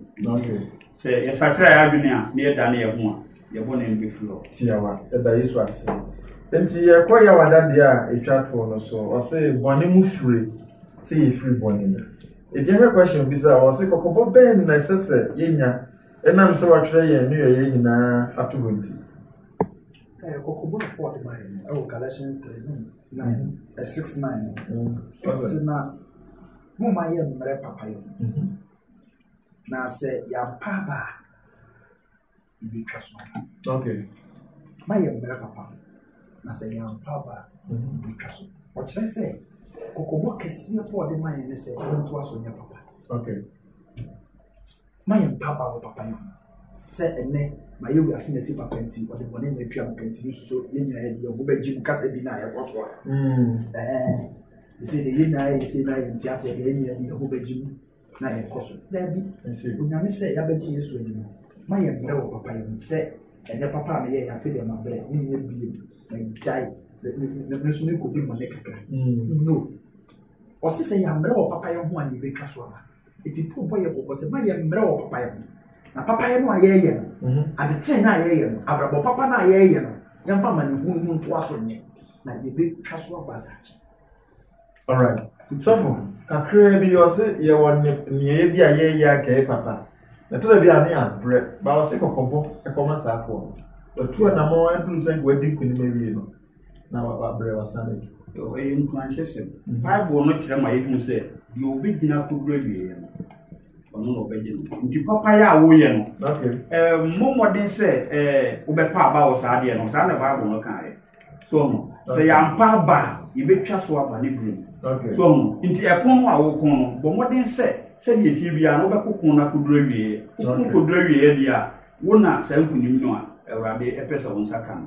sɛ yɛsakra yɛ adwene a na yɛda ne yɛ ho a yɛ bɔne no bɛfiri hɔ tiawa ɛda yesu ase nti yɛkɔ yɛ wadadeɛ a ɛtwa toɔ no so ɔse bɔne mu firi sɛ yɛfiri bɔne mu ɛdeɛ hwɛ question bi sɛ ɔse kɔkɔbɔ bɛn na ɛsɛ sɛ yɛnya Ɛnam sɛ wɔatwerɛ yɛn nneyɔeɛ nyinaa ato hɔ nti. Momma yɛ mmerɛ papa yɛ na sɛ yɛampa aba a yɛbɛtwa so aba ma yɛ mmerɛ papa na sɛ yɛampa aba a yɛbɛtwa so ɔkyerɛ sɛ kɔkɔbɔ kɛseɛ pɔ ɔde ma yɛn ne sɛ yɛntoa so nyɛ papa Ma yɛn mpa ba wɔ papayɛ ho. Sɛ ɛnnɛ mayɛ wiase masi papa nti ɔde bɔne na atua me ka nti no suso yɛn nyinaa yɛde yɛn ho bɛgye mu kasa bi no a ɛkɔ so a ɛsɛ deɛ yɛn nyinaa yɛ sei na yɛnte aseɛ deɛ yɛn nyinaa de yɛn ho bɛgye mu na yɛkɔ so daabi onyame sɛ yɛabɛgye yesu adi no ma yɛn mmerɛ wɔ papa yɛ mu sɛ ɛnyɛ papa a meyɛ yɛafe deɛ mabrɛ menyɛ bie magyae me so mekɔdi mmɔne kakra no ɔse sɛ yɛammerɛ wɔ papa yɛ ho a ne yɛbɛtwa so aba Eti Paul bɔ yɛ kɔkɔ sɛ ma yɛ mmerɛ wɔ papayɛ ho. Na papayɛ no a yɛreyɛ no, mhm. adetee no a yɛreyɛ no, abrabɔ papa no a yɛreyɛ no, yɛmfa ma ne hunu mu ntoa so nyɛ. Na yɛbɛtwa so aba adakye. Alright. Sɔfo, kakraa bi ɔse yɛwɔ nneɛyɛ bi a yɛreyɛ akɛyɛ papa. Ɛtɔ da bi a ne abrɛ, ba ɔse kɔkɔbɔ ɛkɔma saa akoa no. Watu anamɔ aduru sɛ nka wadi nkunim awie no. na wabrɛ wasan akyi. Ɛyɛ nkuranhyɛsɛm. Bible no kyerɛ ma yɛhu sɛ deɛ ɔbɛgyina kɔduru awieɛ no, ɔno na ɔbɛgye no. Nti papayɛ a woyɛ no, mmɔ mmɔden sɛ wobɛpa aba wɔ saa deɛ no. Saa na Bible no kaeɛ. So ɔmo sɛ yɛampa aba a, yɛbɛtwa so aba ne berɛ mu. So ɔmo nti ɛpono no a woko no, bɔ mmɔden sɛ sɛdeɛ ɛteɛ biara no wobɛko ko no akɔduru awieɛ. Woko kɔduru awieɛ deɛ a, wo na saa nkunim no a Awurade ɛpɛ sɛ wo nsa ka no.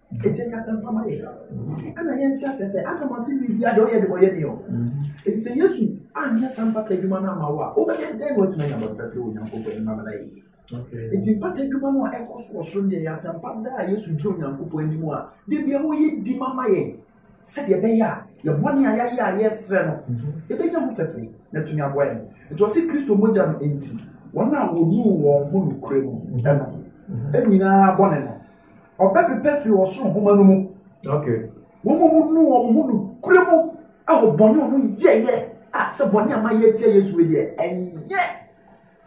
Eti ɛka sɛ mpa ma yɛ. Ɛna yɛn ti asɛ sɛ Adam ase bi bi adi ɔyɛ de ɔyɛ ni o. Eti sɛ Yesu anyɛ saa mpata adwuma no ama wo a, wobɛyɛ dɛn na watumi anya bɔtɔ afiri Onyankopɔn anim ama no ayɛ yie? Eti mpata adwuma no a ɛkɔ so wɔ soro deɛ yɛ asɛmpa da a Yesu gyina Onyankopɔn anim a, de bia wɔyɛ di ma ma yɛn. Sɛdeɛ ɛbɛyɛ a yɛn bɔne a yɛayɛ a yɛresrɛ no ɛbɛnya mu fɛfɛ na atumi aboa yɛn. Nti ɔse Kristo mogya no nti wɔn a wɔnuu wɔn ho nokorɛ mu no nyinaa bɔne no ɔbɛpepa firi ɔsoro nhoma no mu. Wɔn a wɔnuu wɔn ho nokorɛ mu wɔ bɔne a wɔyɛeɛ a sɛ bɔne a mayɛ atia Yesu deɛ ɛnyɛ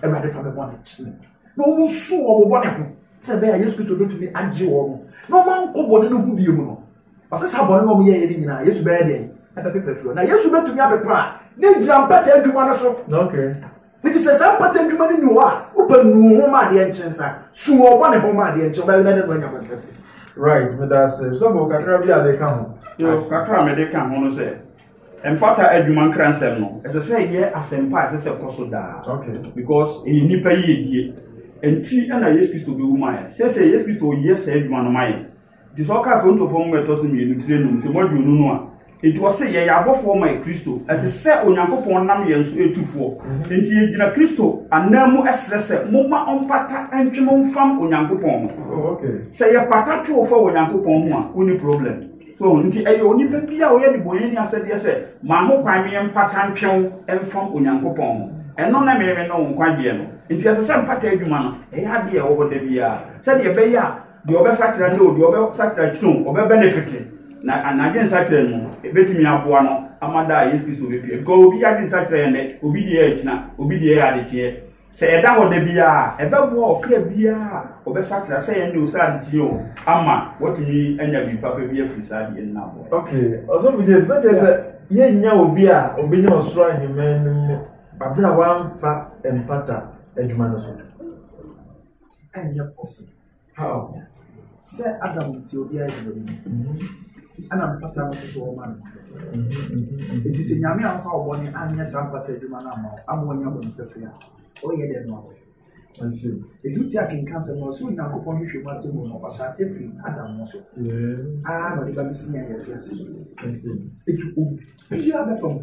Awurade fa me bɔne kyɛ me. Na wɔn nso wɔn bɔne ho sɛ ɛbɛyɛ a Yesu Kristo bɛtumi agye wɔn na wɔn ankɔ bɔne no ho bie mu no. Ɔsɛ saa bɔne na wɔn yɛyɛ no nyinaa Yesu bɛyɛ dɛn ɛbɛpepa firi hɔ na Yesu bɛtumi apepa a ne gyina mpata adwuma no so. Nti sɛ saa mpata adwuma no ni hɔ a wopɛ nuu ho ma adeɛ nkyen sa su wɔn bɔne ho ma adeɛ nkyen bɛyɛ na ne no anya bɔne right meda ase sɔfo kakra bi a de ka ho kakra a mede ka ho no sɛ Mpata adwuma nkransɛm no, ɛsɛ sɛ ɛyɛ asɛmpa a ɛsɛ sɛ ɛkɔ so daa. Okay. Because ɛyɛ nnipa yiyedie. Ɛnti ɛna Yesu Kristo bɛwu ma yɛn. Sɛsɛ Yesu Kristo ɔyɛ saa adwuma no ma yɛn. Nti sɛ ɔka Korintofoɔ nwoma ɛtɔ so mmienu tire num nti mu aduonu no a, nti ɔse yɛyɛ abɔfoɔ ma Kristo. Ɛte sɛ Onyankopɔn nam yɛn so etu foɔ. Mhm. Nti yɛgyina Kristo anan mu ɛsrɛ sɛ momma ɔmpata ntwe mo mfam Onyankopɔn ho. Oh, sɛ yɛpata twe wo fa Onyankopɔn ho a, wonni problem. So nti ɛyɛ onipa bi a ɔyɛ nnebɔneyɛni asɛdeɛ sɛ ma ho kwan meɛ mpata ntwew mfam Onyankopɔn ho. Ɛno ne meeme ne wo nkwagyeɛ no. Nti ɛsɛ sɛ mpata adwuma no ɛyɛ adeɛ a ɛwɔ hɔ da biara sɛdeɛ ɛbɛyɛ a deɛ ɔbɛsakyera ne o deɛ ɔbɛsakyera akyiri o ɔbɛbɛnefete na anadwe nsakyera no mu ɛbɛtumi aboa no ama da a Yesu Kristo bɛpie. Because obi yɛ ade nsakyera yɛ nnɛ, obi deɛ yɛ akyina, obi deɛ yɛ adekyeɛ. Sɛ yɛda hɔ da biara a, ɛbɛboa ɔkra biara a ɔbɛsakyera sɛ yɛn de ɔsɛ adekyee o ama watumi anya biribi papa bi afiri saa deɛ no aboa. Okay, ɔsɔfo James, na kyerɛ sɛ yɛnnya obi a obenya ɔsoro ahemman no mu abere a wamfa mpata adwuma no so. Ɛnyɛ possible. How? Sɛ Adam te obiara gyina bi mu. Ɛna mpata no nso wɔn ano. Eti sɛ nyame anfa ɔbɔ ne anyɛ saa mpata adwuma no ama ama wɔnya bɔ ne pɛpɛ a ɔyɛ dɛ no awɔ. Ɛnso edu ti akenkan sɛ na ɔsɛ Onyankopɔn hwehwɛ mu ate mu no ɔhyɛ ase firi Adam no so. Aa na ɔde ba besi yɛn yɛte ase so. Eti obiara bɛfa mu.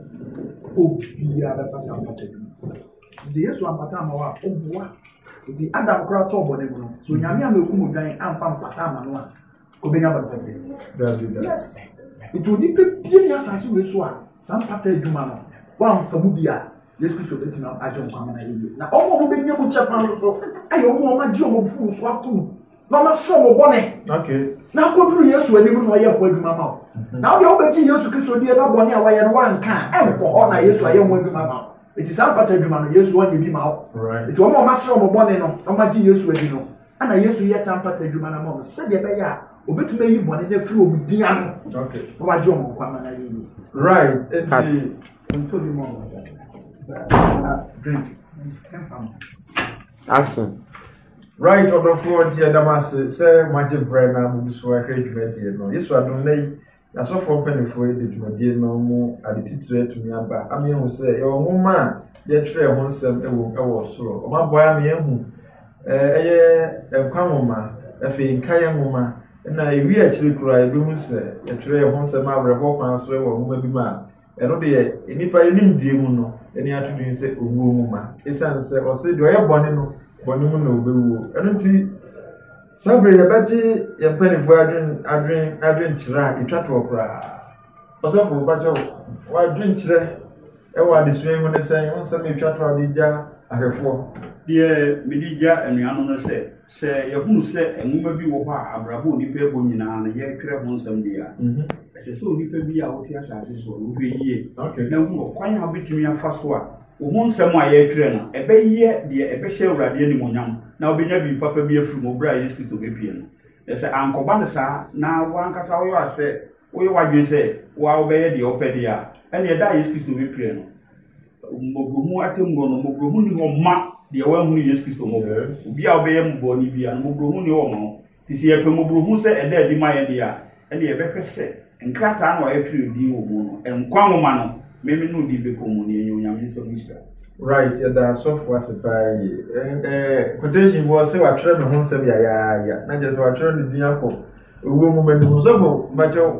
Obiara bɛfa saa mpata adwuma. Ɔsɛ Yesu ampata ama wo a ɔboa. Nti Adam koraa tɔɔ bɔne mu no, so Onyame ama ekum odwan amfa mpata ama no a, kɔbɛnya bɔne fɛfɛ. Yes. Nti onipa bie ni asase wei so a saa mpata adwuma no wamfa mu bi a Yesu Kristo bɛtumi agye nkwa ma no ayɛ yie. Na wɔn a wɔbɛnya mu kyɛ paa nso ayɛ wɔn a wɔagye wɔn funu so ato mu na wɔasɔ wɔn bɔne. Na akɔduru Yesu anim na ɔyɛ ho adwuma ma wo. Mhm. Na wodeɛ wobɛgye Yesu Kristo die na bɔne a wɔyɛ no wanka ɛnkɔ hɔ na Yesu ayɛ ho adwuma ma wo. Eti saa mpata adwuma no, Yesu ɔnyɛ bi ma wɔ. Eti wɔn a wɔasrɛ wɔn bɔne no, na wɔagye Yesu adi no, ɛna Yesu yɛ saa mpata adwuma no ama wɔn sɛdeɛ ɛbɛyɛ a obetumi ayi bɔne no afiri wɔn din ano na wagye wɔn nkwa ma no ayɛ yie. Right. Eti ntɔ bi mu a wɔn drink. Action. Right ɔdɔfoɔ nti ɛdam ase sɛ moagye brɛ na mo nso ahwɛ dwumadie no. Yesu adom na yi Asɔfoɔ mpanimfoɔ yi de dwumadie no mu ade titire atumi aba ama yɛahu sɛ yɛwɔ nwoma a yɛtwerɛɛ ho nsɛm wom wɔ soro. Wɔaboa ama yɛahu ɛyɛ nkwa nwoma, afei nkaeɛ nwoma, na ɛwie akyiri koraa yɛbɛhu sɛ yɛtwerɛɛ ho nsɛm awerɛhoɔ kwan so wɔ nwoma bi mu a ɛno deɛ nnipa anim due mu no ɛni ato din sɛ owuo nwoma. Ɛsiane sɛ ɔse deɛ ɔyɛ bɔne no bɔne mu na ɔbɛwuo. Ɛno nti Saa bere yɛbɛgye yɛn mpanimfoɔ adwen adwen adwenkyerɛ a ɛtwa toɔ koraa. Ɔsɔfo bɛkyɛ w'adwenkyerɛ ɛwɔ adesua yi ho ne sɛn ho nsɛm ɛtwa toɔ a gya ahwɛfoɔ. Deɛ mede gya anuanom no sɛ, sɛ yɛhunu sɛ nwoma bi wɔ hɔ a abrabɔ a onipa ɛbɔ nyinaa no yɛtwerɛ ho nsɛm deɛ a, mm -hmm. ɛsɛ sɛ onipa bi a wote asase soɔ no wohwɛ yie okay. na hu ɔkwan a wobɛtumi afa so a Wo ho nsɛm a yɛretwerɛ no, ɛbɛyɛ deɛ ɛbɛhyɛ Awurade animuonyam na wobɛnya biribi papa bi afiri mu berɛ a Yesu Kristo bɛpue no. Na sɛ ankɔba no saa na wo ankasa woyɛ a sɛ woyɛ w'adwene sɛ wo ara wobɛyɛ deɛ wopɛ deɛ a, ɛnneɛ da a Yesu Kristo bɛpue no, mmɔborɔhunu atemmuo no, mmɔborɔhunu nni hɔ mma deɛ wanhunu Yesu Kristo mmɔbɔ. Obiara a ɔbɛyɛ bɔne biara no, mmɔborɔhunu nni hɔ mma no. Enti sɛ yɛpɛ mmɔborɔhunu sɛ ɛda adi ma yɛn de a, ɛnneɛ yɛbɛhwɛ sɛ nkrataa no a yɛatwerɛ edin wɔ mu no, nkwa nwoma no, Meme no din bɛkɔ mu, na yɛanya Onyame nsam nhyira. Right, yɛda asɔfo ase paa yie. Eh, eh, quotation bi wɔ sɛ watwerɛ me ho nsɛm yayaaya, na kyerɛ sɛ watwerɛ ne din akɔ owuo nwoma no mu. Sɔfo, mpakyɛw,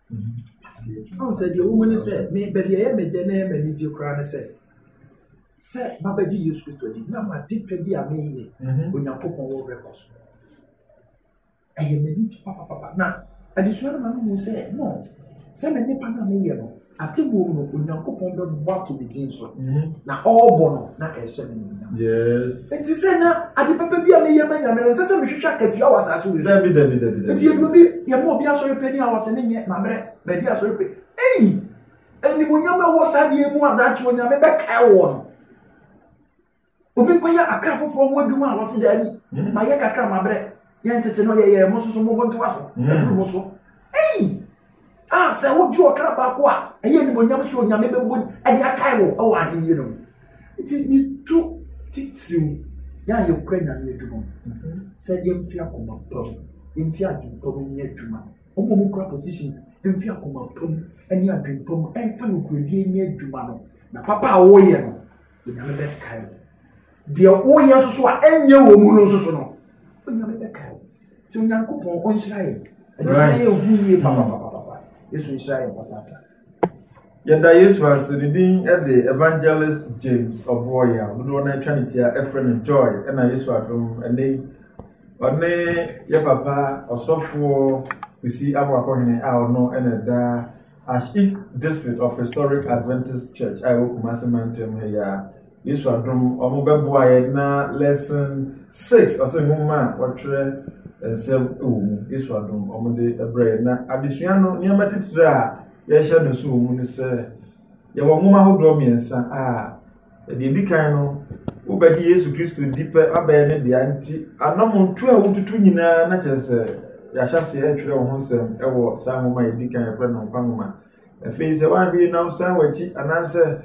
ɔn sɛ deɛ wɔmu ne sɛ me baabi ɛyɛ me dɛ na ɛyɛ m'ani gye koraa ne sɛ sɛ mabɛgye yesu kristo adi na made pɛ bi a meyɛ mhm. onyankopɔn wɔ werɛ kɔ so ɛyɛ m'ani gye papapapa na adesua no ma no mu sɛ no sɛ me nipa no a meyɛ no ate bom no onyankopɔn bɛbɔ ato me din so mhm. na ɔrebɔ no na ɛhyɛ me Yes. Nti sɛ na ade papa bi a meyɛ ma nyame no nsɛ sɛ mehwehwɛ akatua wɔ asase wei so. Dabi dabi dabi dabi. Nti yɛde obi yɛma obi asɔre pɛ ni a wɔsɛ ne nyɛ mabrɛ bɛdi asɔre pɛ. Eyi animuonyam ɛwɔ saa deɛ mu a daakye onyame bɛkae wɔ no. Obi nkɔyɛ akra foforɔ ho adwuma a wɔse daabi hmm. mayɛ kakra mabrɛ. Yɛn tete no yɛyɛ mo soso mo bontowa so mm. aduru mo so. Ei! A sɛ wogye ɔkra baako a ɛyɛ animonyam sɛ onyame bɛbɔ ɛde akae wo ɛwɔ ahenni no mu. Nti metu titiriw yɛ a yɛkura nyame adwuma mu mm-hmm. sɛ yɛmfi akoma pa mu yɛmfi adwene pa mu nyɛ adwuma wɔn a wɔkura positions mfi akoma pa mu ne adwene pa mu ɛmfa nokorɛdie nyɛ adwuma no na papa a wɔyɛ no Onyame bɛkae wo. Deɛ woyɛ nso so a ɛnyɛ wɔ mu no nso so no, Onyame bɛkae wo. Nti Onyankopɔn ɔnhyira yɛ. Ɛno sɛ yɛ hu yie papapapapa. Yesu nhyira yɛ papapa. Yɛda Yesu ase ne din de Evangelist James Ɔboɔyɛ a dodoɔ no atwa ne tia ɛfrɛ no Joy ɛna Yesu adom ɛne ɔne yɛ papa ɔsɔfoɔ Kusi Aboakɔhene a ɔno ɛna ɛda Ash East District of Historic Adventist Church a ɛwɔ Kumasi mantam ha yi a Yesu adom wɔn bɛboa yɛn na lesson six ɔsɛ nwoma a wɔtwerɛ nsɛm wɔ mu Yesu adom wɔn de brɛ yɛn na adesua no nneɛma titire a yɛhyɛ no so wɔ mu no sɛ yɛwɔ nwoma ahodoɔ mmiɛnsa a Deɛ ɛdi kan no, wobɛgye Yesu Kristo di pɛ abɛn ne dea nti, anammɔntu a wotutu nyinaa na kyerɛ sɛ yɛahyɛ aseɛ atwerɛ wo ho nsɛm wɔ saa nwoma a ɛdi kan yɛfrɛ no nkwa nwoma. Afei sɛ woanhwɛ na wosan w'akyi anaasɛ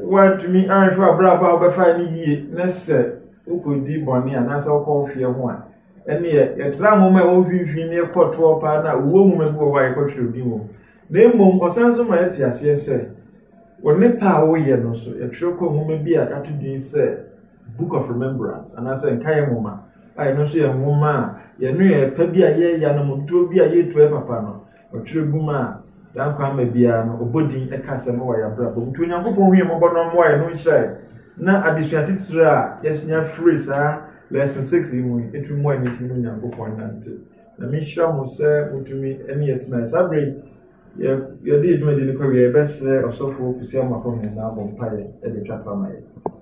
woantumi anhwɛ abrabɔ a wobɛfa ne yie ne sɛ wokɔdi bɔne anaasɛ wokɔ wo feɛ ho a ɛneɛ yɛtra nwoma a ɛwɔ mfimfini ne ɛkɔtoɔ paa no a owuo nwoma bi wɔ hɔ a yɛkɔtwerɛ din wɔ mu Na mmom ɔsan nso ma yɛte aseɛ sɛ, wɔ ne pɛ a woyɛ no so, yɛtwerɛ kɔ nwoma bi a yɛato din sɛ Book of Remembrance, anaasɛ Nkaeɛ Nwoma, a ɛno nso yɛ nwoma a yɛne yɛn pɛ bi a yɛyɛ anam ntuo bi a yɛretu ayɛ papa no, ɔtwerɛ gu mu a daa nkwa ama biara no, ɔbɔ din ɛka asɛm wɔ yɛn abrabɔ mu. Nti Onyankopɔn hu yɛn mmɔbɔ na ɔmmoa yɛn, na ɔnhyira yɛn. Na adesua titire a yɛnya firi saa Lesson 6 yi mu yi, ɛtumi mmoa yɛn na yɛtumi ne Onyankopɔn nante. Nyame nhyira mo sɛ motumi ne yɛ tena. Saa berɛ yi, yɛ yɛde yɛ dwumadi no kɔwie yɛbɛsrɛ ɔsɔfo Kwesi Amoako hene na abɔ mpaeɛ de atwa to ama yɛ.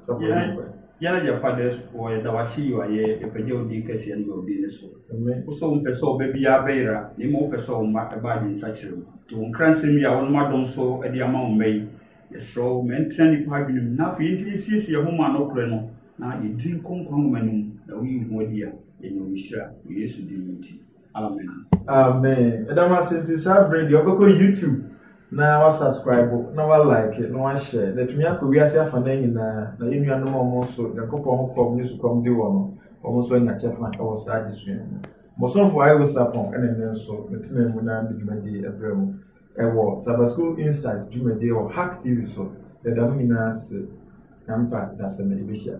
Sɔfo yɛ nkɔ. Yɛ yɛ fathers foɔ yɛda wase yɔ ayɛ yɛpagya wo din kɛseɛ ne yɛ wo din ne so. Amen. Wo sɛ wo mpɛ sɛ ɔba biara bɛyera na mmom wopɛ sɛ wo mma ɛba adwensakyera mu. Nti wo nkransɛm yi a wonom adom so de ama wo mma yi Yɛsrɛ wo, ma ɛntena nnipa adwenem, na afei yɛntumi nsiesie yɛn ho ma nokorɛ no, na yɛdiri nkɔ nkwa nwoma no mu, na woyi wo ho adi a, yɛanya wo nhyira, wɔ Yesu din mu nti. Amen. Amen. Ɛda mo ase nti saa bere deɛ ɔbɛkɔ YouTube na wasubscribe na walike na wahyɛ na atumi akɔ wiase afa no nyinaa na yɛn nuanom a wɔn nso Nyankopɔn ho kɔm ne sukɔm de wɔn no wɔn nso anya kyɛfa wɔ saa adesua mu. Mosomfo ayɛ wosapɔn ɛna nnɛ nso metena mu na mede dwumadie ɛbrɛ mu. Ɛwɔ Sabbath School Insight dwumadie wɔ Hack TV so, yɛda mo nyinaa ase, Yɛmfa dasani bɛhyia.